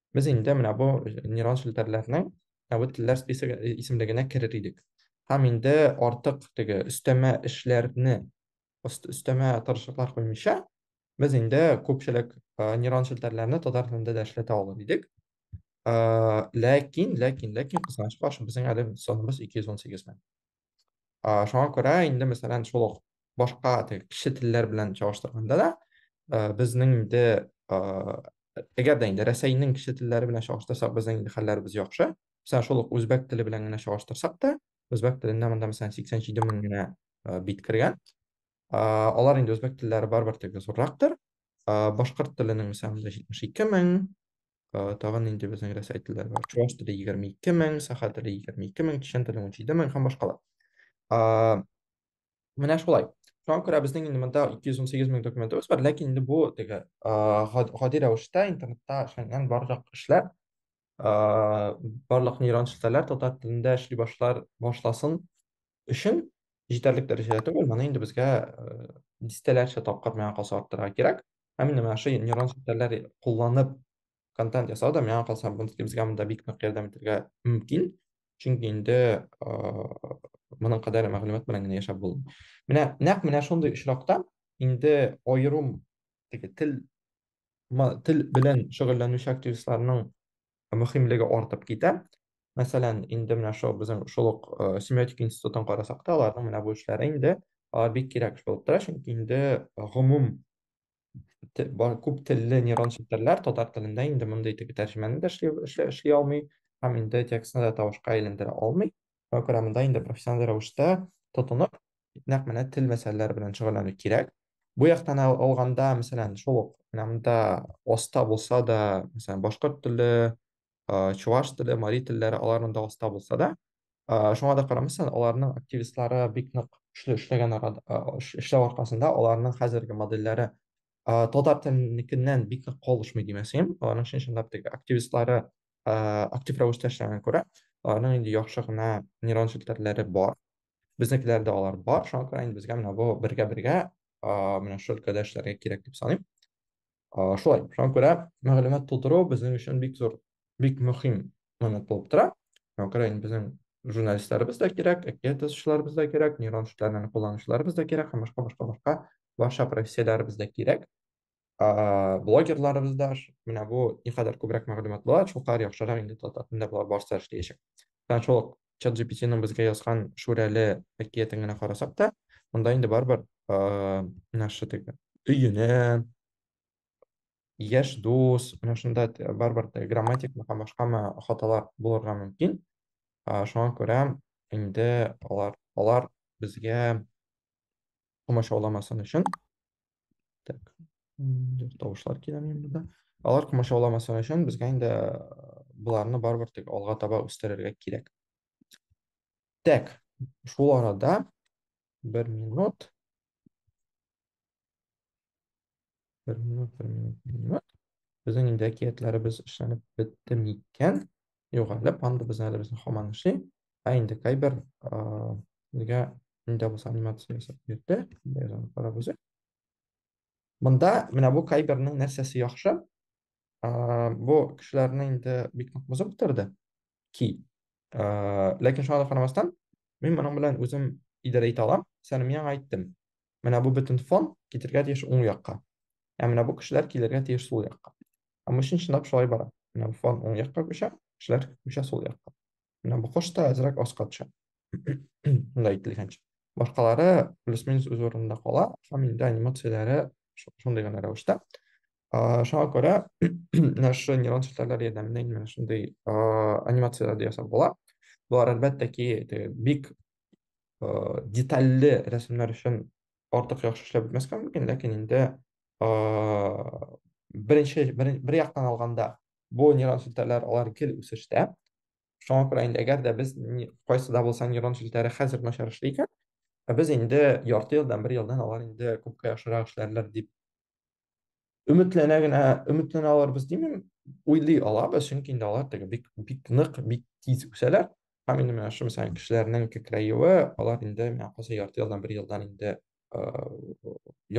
Без инде менә бу нейрон челтәрләрнең әвет телләр списогы э, исемлегенә керер идек. Һәм инде артык теге өстәмә эшләрне, өстәмә тырышлыклар куймыйча, без инде күпчелек э, нейрон челтәрләрне татар телендә дә эшләтә алыр идек. Э, ләкин, ләкин, ләкин кызганычка каршы безнең әле саныбыз 218 мең. А, шуңа күрә инде мәсәлән шул ук башка теге кече телләр белән чагыштырганда да э, безнең инде э, әгәр дә инде Рәсәйнең кече телләре белән чагыштырсак безнең инде хәлләребез яхшы. Мәсәлән шул ук үзбәк теле белән генә чагыштырсак та үзбәк телендә монда мәсәлән 87 мең генә э, бит кергән. Э, алар инде үзбәк телләре барыбер теге зуррактыр. Э, башкорт теленең мәсәлән 72 мең, Э, тагын нинди безнең рәсәйтлеләр бар чуваш теле егерме ике мең саха теле егерме ике мең чечен теле унҗиде мең һәм башкалар а, менә шулай шуңа күрә безнең инде монда ике йөз унсигез мең документыбыз бар ләкин инде бу теге гади рәвештә интернетта эшләнгән барлык эшләр барлык нейрон челтәрләр татар телендә эшли башлар башласын өчен җитәрлек дәрәҗәдә түгел, моны инде безгә дистәләрчә тапкыр миңа калса арттырырга кирәк. Һәм менә менә шушы нейрон челтәрләр кулланып контент ясау да миңа калса безгә монда бик нык ярдәм итәргә мөмкин. Чөнки инде моның кадәр мәгълүмат белән генә яшәп булмый. Менә нәкъ менә шундый очракта инде аерым теге тел тел белән шөгыльләнүче активистларның мөһимлеге артып китә. Мәсәлән, инде менә шул безнең шул ук семиотик институтын карасак та, аларның менә бу эшләре инде бик кирәк эш булып тора, чөнки инде гомум күп телле нейрон челтәрләр татар телендә инде мондый теге тәрҗемәне дә эшли алмый һәм инде текстны да тавышка әйләндерә алмый. программында инде профессиональ рәвештә тотынып, нәкъ менә тел мәсьәләләре белән шөгыльләнү кирәк. Бу яктан алганда, мәсәлән, шул ук менә монда оста булса да, мәсәлән, башкорт теле, чуваш теле, мари телләре аларның да оста булса да, шуңа да карамастан, аларның активистлары бик нык эшле эшләгән эшләү аркасында аларның хәзерге модельләре татар теленекеннән бик нык калышмый димәсем, аларның чын-чынлап теге активистлары актив рәвештә эшләгәнгә күрә, аларның инде яхшы гына нейрон челтәрләре бар. Безнекеләрдә алар бар, шуңа күрә инде безгә менә бу бергә-бергә менә шул өлкәдә эшләргә кирәк дип саныйм. Шулай, шуңа күрә мәгълүмат тутыру безнең өчен бик зур, бик мөһим момент булып тора. Шуңа күрә инде безнең журналистларыбыз да кирәк, әкият язучыларыбыз да кирәк, нейрон челтәрләрен кулланучыларыбыз да кирәк һәм башка-башка-башка барча профессияләребез дә кирәк. ә, блогерларыбыз да менә бу никадәр күбрәк мәгълүмат була, шулкадәр яхшырак инде татар телендә болар барысы да эшләячәк. Менә шул ук ChatGPT-ның безгә язган Шүрәле әкиятен генә карасак та, монда инде барыбер ә, менә шушы теге өенә, яшь дус, менә шунда те- барыбер теге грамматикмы һәм башкамы хаталар булырга мөмкин. Ә, Шуңа күрә инде алар алар безгә комачауламасын өчен Так. Тавышлар килә минем монда. Алар комачауламасын өчен безгә инде боларны барыбер тик алга таба үстерергә кирәк. Так. Шул арада бер минут. Бер минут, бер минут, бер минут. Безнең инде әкиятләребез эшләнеп бетте микән? югалып, анда безнең әле безнең хаман эшли. Ә инде кайбер нигә инде бу анимация ясап бирде. Язам карап үзе. Монда менә бу кайбернең нәрсәсе яхшы? Бу кешеләрне инде бик нык бозып бетерде. Ки. Ләкин шуңа да карамастан, мин моның белән үзем идарә итә алам. Сәлимгә әйттем. Менә бу бөтен фон китергә тиеш уң якка. Ә менә бу кешеләр килергә тиеш сул якка. Һәм өчен чынлап шулай бара. Менә бу фон уң якка күчә, кешеләр күчә сул якка. Менә бу кош та әзрәк аска төшә. Монда әйтелгәнчә. Башкалары плюс-минус үз урынында кала, һәм инде анимацияләре шундый гына рәвештә. Шуңа күрә менә шушы нейрон челтәрләре ярдәмендә инде менә шундый анимацияләрдә ясап була. Болар әлбәттә ки бик э, детальле рәсемнәр өчен артык яхшы эшләп бетмәскә мөмкин, ләкин инде э, беренче бер, бер яктан алганда бу нейрон челтәрләр алар гел үсештә. Шуңа күрә инде әгәр дә без кайсы да булса нейрон челтәре хәзер начар эшли икән, ә без инде ярты елдан, бер елдан алар инде күпкә яхшырак эшләрләр дип өметләнә генә өметләнә алырбыз димим уйлый алабыз чөнки инде алар теге бик бик нык бик тиз үсәләр һәм инде менә шул мәсәлән кешеләрнең кекрәюе алар инде менә калса ярты елдан бер елдан инде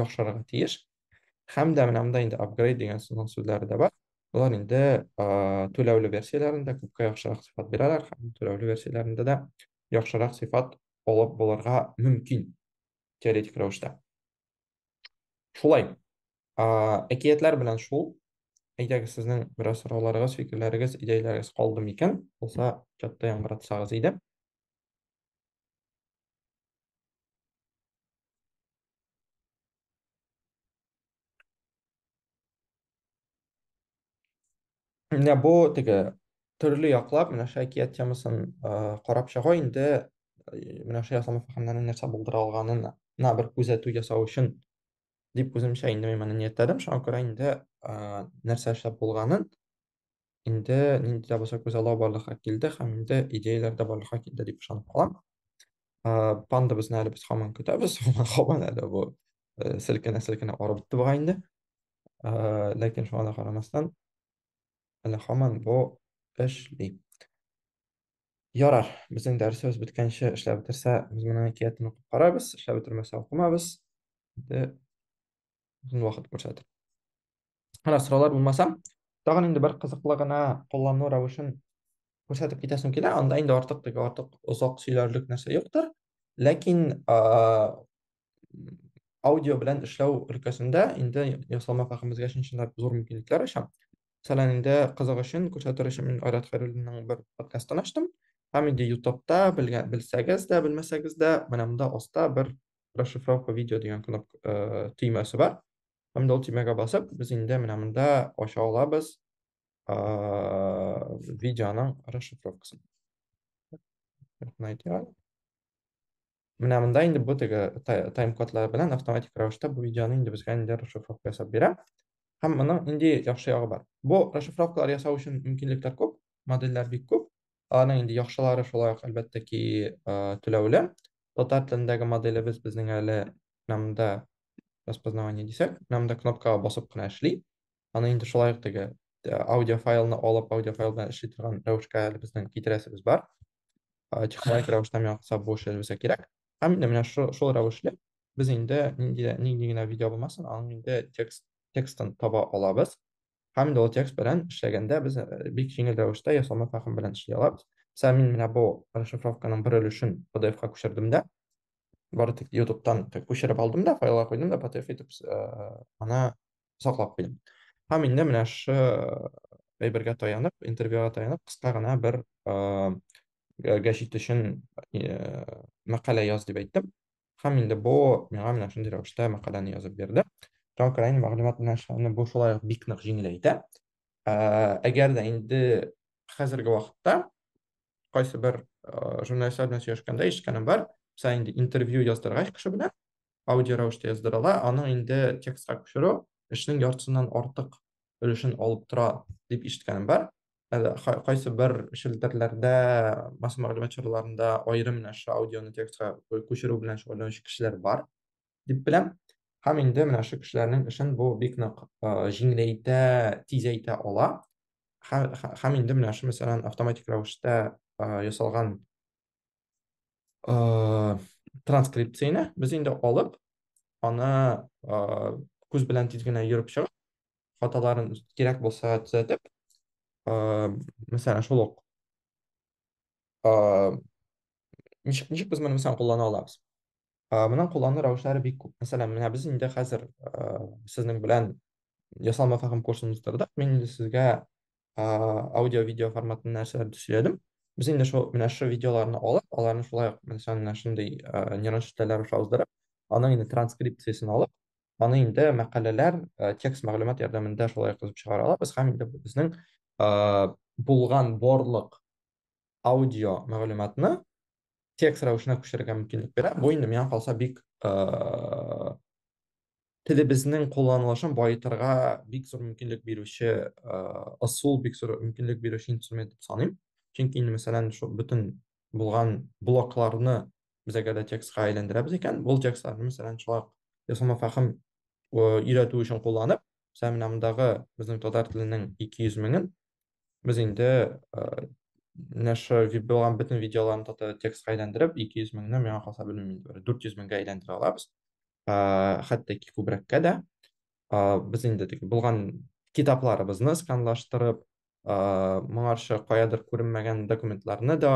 яхшырырга тиеш һәм дә менә монда инде апгрейд дигән сүзләре дә бар алар инде түләүле версияләрендә күпкә яхшырак сыйфат бирәләр һәм түләүле версияләрендә дә яхшырак сыйфат алып булырга мөмкин теоретик рәвештә Шулай. Әкиятләр белән шул. Әйдәгез, сезнең бераз сорауларыгыз, фикерләрегез, идеяләрегез калды микән? Булса, чатта яңгыратсагыз иде. Менә бу теге төрле яклап менә шул әкият темасын карап чыгу инде менә шул ясалма фәһемнәрнең нәрсә булдыра алганына бер күзәтү ясау өчен дип үземчә инде мин моны ниятләдем шуңа күрә инде нәрсә эшләп булганын инде нинди дә булса күзаллау барлыкка килде һәм инде идеяләр дә барлыкка килде дип ышанып калам. Пандабызны әле без һаман көтәбез, һаман әле бу э, селкенә-селкенә арып бетте бугай инде. Ләкин шуңа да карамастан, әле һаман бу эшли. Ярар, безнең дәресебез беткәнче эшләп бетерсә, без моның әкиятен укып карарбыз, эшләп бетермәсә укымабыз. Инде озын вакыт күрсәтер. Ана сораулар булмаса, тагын инде бер кызыклы гына куллану рәвешен күрсәтеп китәсем килә. Анда инде артык теге артык озак сөйләрлек нәрсә юктыр. Ләкин аудио белән эшләү өлкәсендә инде ясалма фәхемебезгә чынчынлап зур мөмкинлекләр ача. Мәсәлән, инде кызык өчен күрсәтер өчен мин Айрат Хәйруллинның бер подкастын ачтым. Һәм инде YouTube-та белгән белсәгез дә, белмәсәгез дә, менә монда аста бер расшифровка видео дигән кнопка төймәсе бар. Һәм дә ул төймәгә басып, без инде менә монда ача алабыз видеоның расшифровкасын. Менә монда инде бу теге тайм-кодлар белән автоматик рәвештә бу видеоны инде безгә инде расшифровка ясап бирә. Һәм моның инде яхшы ягы бар. Бу расшифровкалар ясау өчен мөмкинлекләр күп, модельләр бик күп. Аларның инде яхшылары шулай ук әлбәттә ки түләүле. Татар телендәге моделебез безнең әле монда распознавание дисәк, менә монда кнопкага басып кына эшли. Аны инде шулай ук теге э, аудиофайлны алып, аудиофайл белән эшли торган рәвешкә әле безнең китерәсебез бар. Технологик рәвештә миңа калса бу эшләр безгә кирәк. Һәм инде менә шул, шул рәвешле без инде нинди нинди генә видео булмасын, аның инде текст текстын таба алабыз. Һәм инде ул текст белән эшләгәндә без э, бик җиңел рәвештә ясалма фәһем белән эшли алабыз. Мисала, мин менә бу расшифровканың бер өлешен PDF-ка күчердем дә, бары тик YouTube-тан күчереп алдым да, файлга куйдым да, PDF итеп э, аны саклап куйдым. Һәм инде менә шы әйбергә таянып, интервьюга таянып, кыска гына бер э, гә- гәҗит өчен э, мәкалә яз дип әйттем. Һәм инде бу миңа менә шундый рәвештә мәкаләне язып бирде. Тау краен мәгълүмат белән эшләүне бу шулай ук бик нык җиңеләйтә. Әгәр дә инде хәзерге вакытта кайсы бер журналистлар белән сөйләшкәндә ишеткәнем бар, мисаль инде интервью яздыргач кеше белән, аудио рәвештә яздырыла, аның инде текстка күчерү эшнең яртысыннан артык өлешен алып тора дип ишеткәнем бар. Әле кай- кайсы бер челтәрләрдә, масса мәгълүмат чараларында аерым менә шушы аудионы текстка кө- күчерү белән шөгыльләнүче кешеләр бар, дип беләм. Һәм инде менә шушы кешеләрнең эшен бу бик нык э, җиңеләйтә, тизәйтә ала. Һә- һә- Һәм инде менә шушы, мәсәлән, автоматик рәвештә э, ясалган э, транскрипцияне без инде алып, аны э, күз белән тиз генә йөреп чыгып, хаталарын кирәк булса төзәтеп, мәсәлән, шул ук ничек ничек без моны мәсәлән куллана алабыз? Моның куллану рәвешләре бик күп. Мәсәлән, менә без инде хәзер сезнең белән ясалма фәһем курсын уздырдык. Мин инде сезгә аудио-видео форматында нәрсәләр төшердем. Без инде шул менә шул видеоларны алып, аларны шулай ук менә шундый нейрон челтәрләр аша уздырып, аның инде транскрипциясен алып, аны инде мәкаләләр, текст мәгълүмат ярдәмендә шулай язып чыгара алабыз һәм инде безнең булган барлык аудио мәгълүматны текст рәвешенә күчерергә мөмкинлек бирә. Бу инде миңа калса бик телебезнең кулланылышын баетырга бик зур мөмкинлек бирүче ысул, бик зур мөмкинлек бирүче инструмент дип саныйм. Чөнки инде мәсәлән, шул бөтен булган блокларны без әгәр дә текстка әйләндерәбез икән, ул текстларны мәсәлән, шулай ясалма фәһем өйрәтү өчен кулланып, мәсәлән, менә мондагы безнең татар теленең 200 меңен без инде менә шу булган бөтен видеоларны татар текстка әйләндереп, 200 меңне миңа калса белмим инде, 400 меңгә әйләндерә алабыз. хәтта ки күбрәккә дә без инде теге булган китапларыбызны сканлаштырып моңарчы каядыр күренмәгән документларны да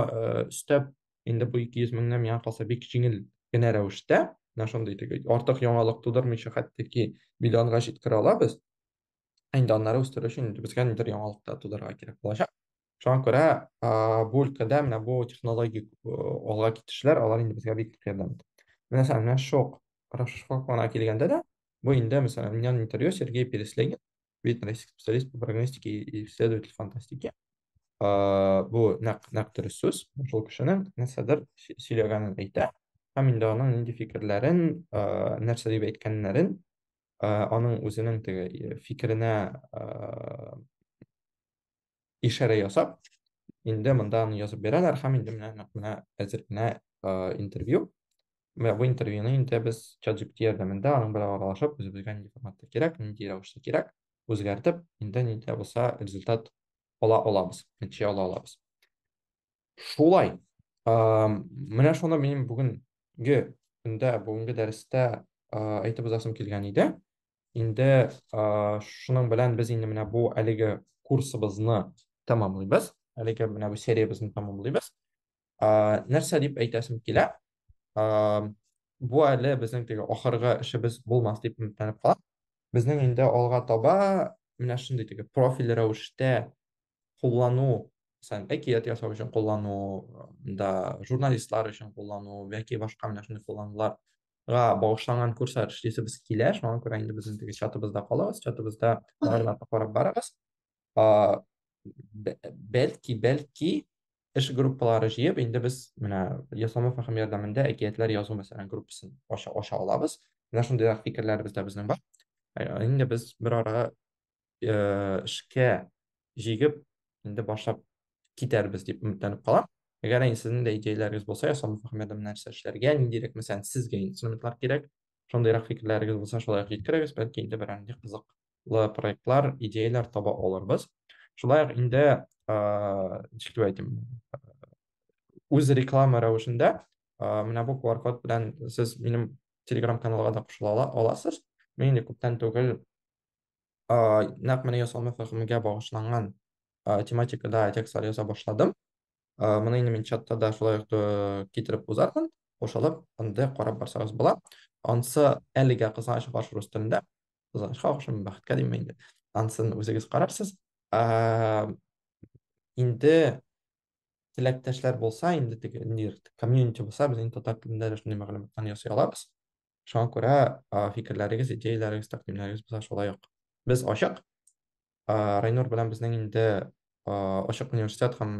өстәп инде бу ике йөз меңнән миңа калса бик җиңел генә рәвештә менә шундый теге артык яңалык тудырмыйча хәтта ки миллионга җиткерә алабыз инде аннары үстерү өчен инде безгә нидер яңалык та тудырырга кирәк булачак шуңа күрә бу өлкәдә менә бу технологик алга китешләр алар инде безгә бик ярдәм итә менә сән менә шок расшифровкаларга килгәндә дә бу инде мәсәлән миннән интервью сергей переслегин видный российский специалист по прогностике и исследователь фантастики бу нәкъ нәкъ дөрес сүз шул кешенең нәрсәдер сөйләгәнен әйтә һәм инде аның нинди фикерләрен нәрсә дип әйткәннәрен аның үзенең теге фикеренә ишарә ясап, инде монда аны язып бирәләр һәм инде менә нәкъ менә әзер генә интервью. Менә бу интервьюны инде без ChatGPT ярдәмендә аның белән аралашып, үзебезгә нинди форматта кирәк, нинди рәвештә кирәк, үзгәртеп, инде нидә булса результат ала алабыз, нәтиҗә ала алабыз. Шулай. Менә шуны мин бүгенге көндә, бүгенге дәрестә әйтеп узасым килгән иде. инде шуның белән без инде менә бу әлеге курсыбызны тәмамлыйбыз әлеге менә бу сериябезне тәмамлыйбыз нәрсә дип әйтәсем килә бу әле безнең теге ахыргы эшебез булмас дип өметләнеп калам безнең инде алга таба менә шундый теге профиль рәвештә куллану мәсәлән әкият ясау өчен куллану да журналистлар өчен куллану яки башка менә шундый куллануларга багышланган курслар эшлисебез килә шуңа күрә инде безнең теге чатыбызда калыгыз чатыбызда мәгълүматны карап барыгыз бәлки бәлки эш группалары җыеп инде без менә ясалма фәһем ярдәмендә әкиятләр язу мәсәлән группасын ача, ача алабыз менә шундыйрак фикерләребез дә безнең бар инде без бер арага э, эшкә җигеп инде башлап китәрбез дип өметләнеп калам әгәр инде сезнең дә идеяләрегез булса ясалма фахмәдә нәрсә эшләргә ниндирәк мәсәлән сезгә инструментлар кирәк шундыйрак фикерләрегез булса шулай ук җиткерегез бәлки инде берәр нинди кызыклы проектлар идеяләр таба алырбыз шулай ук инде ничек дип әйтим үз реклама рәвешендә менә бу qr код белән сез минем телеграм каналга да кушыла аласыз мин инде күптән түгел нәкъ менә ясалма фәһемгә багышланган тематикада текстлар яза башладым. Моны инде мин чатта да шулай ук китереп узармын. Кушылып, анда карап барсагыз була. Ансы әлегә кызганыч баш рус телендә. Кызганычка охшамый, бәхеткә димме инде. Ансын үзегез карарсыз. Инде теләктәшләр булса, инде теге комьюнити булса, без инде татар телендә дә шундый мәгълүматларны ясый алабыз. Шуңа күрә фикерләрегез, идеяләрегез, тәкъдимнәрегез булса шулай ук. Без ачык. Райнур белән безнең инде ачык университет һәм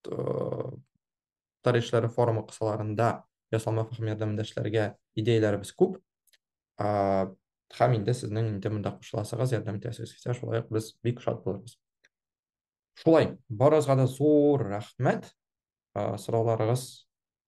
татар эшләре форумы кысаларында ясалма фәһем ярдәмендә эшләргә идеяләребез күп. Һәм инде сезнең инде монда кушыласыгыз, ярдәм итәсегез килсә, шулай ук без бик шат булырбыз. Шулай, барыгызга да зур рәхмәт. Сорауларыгыз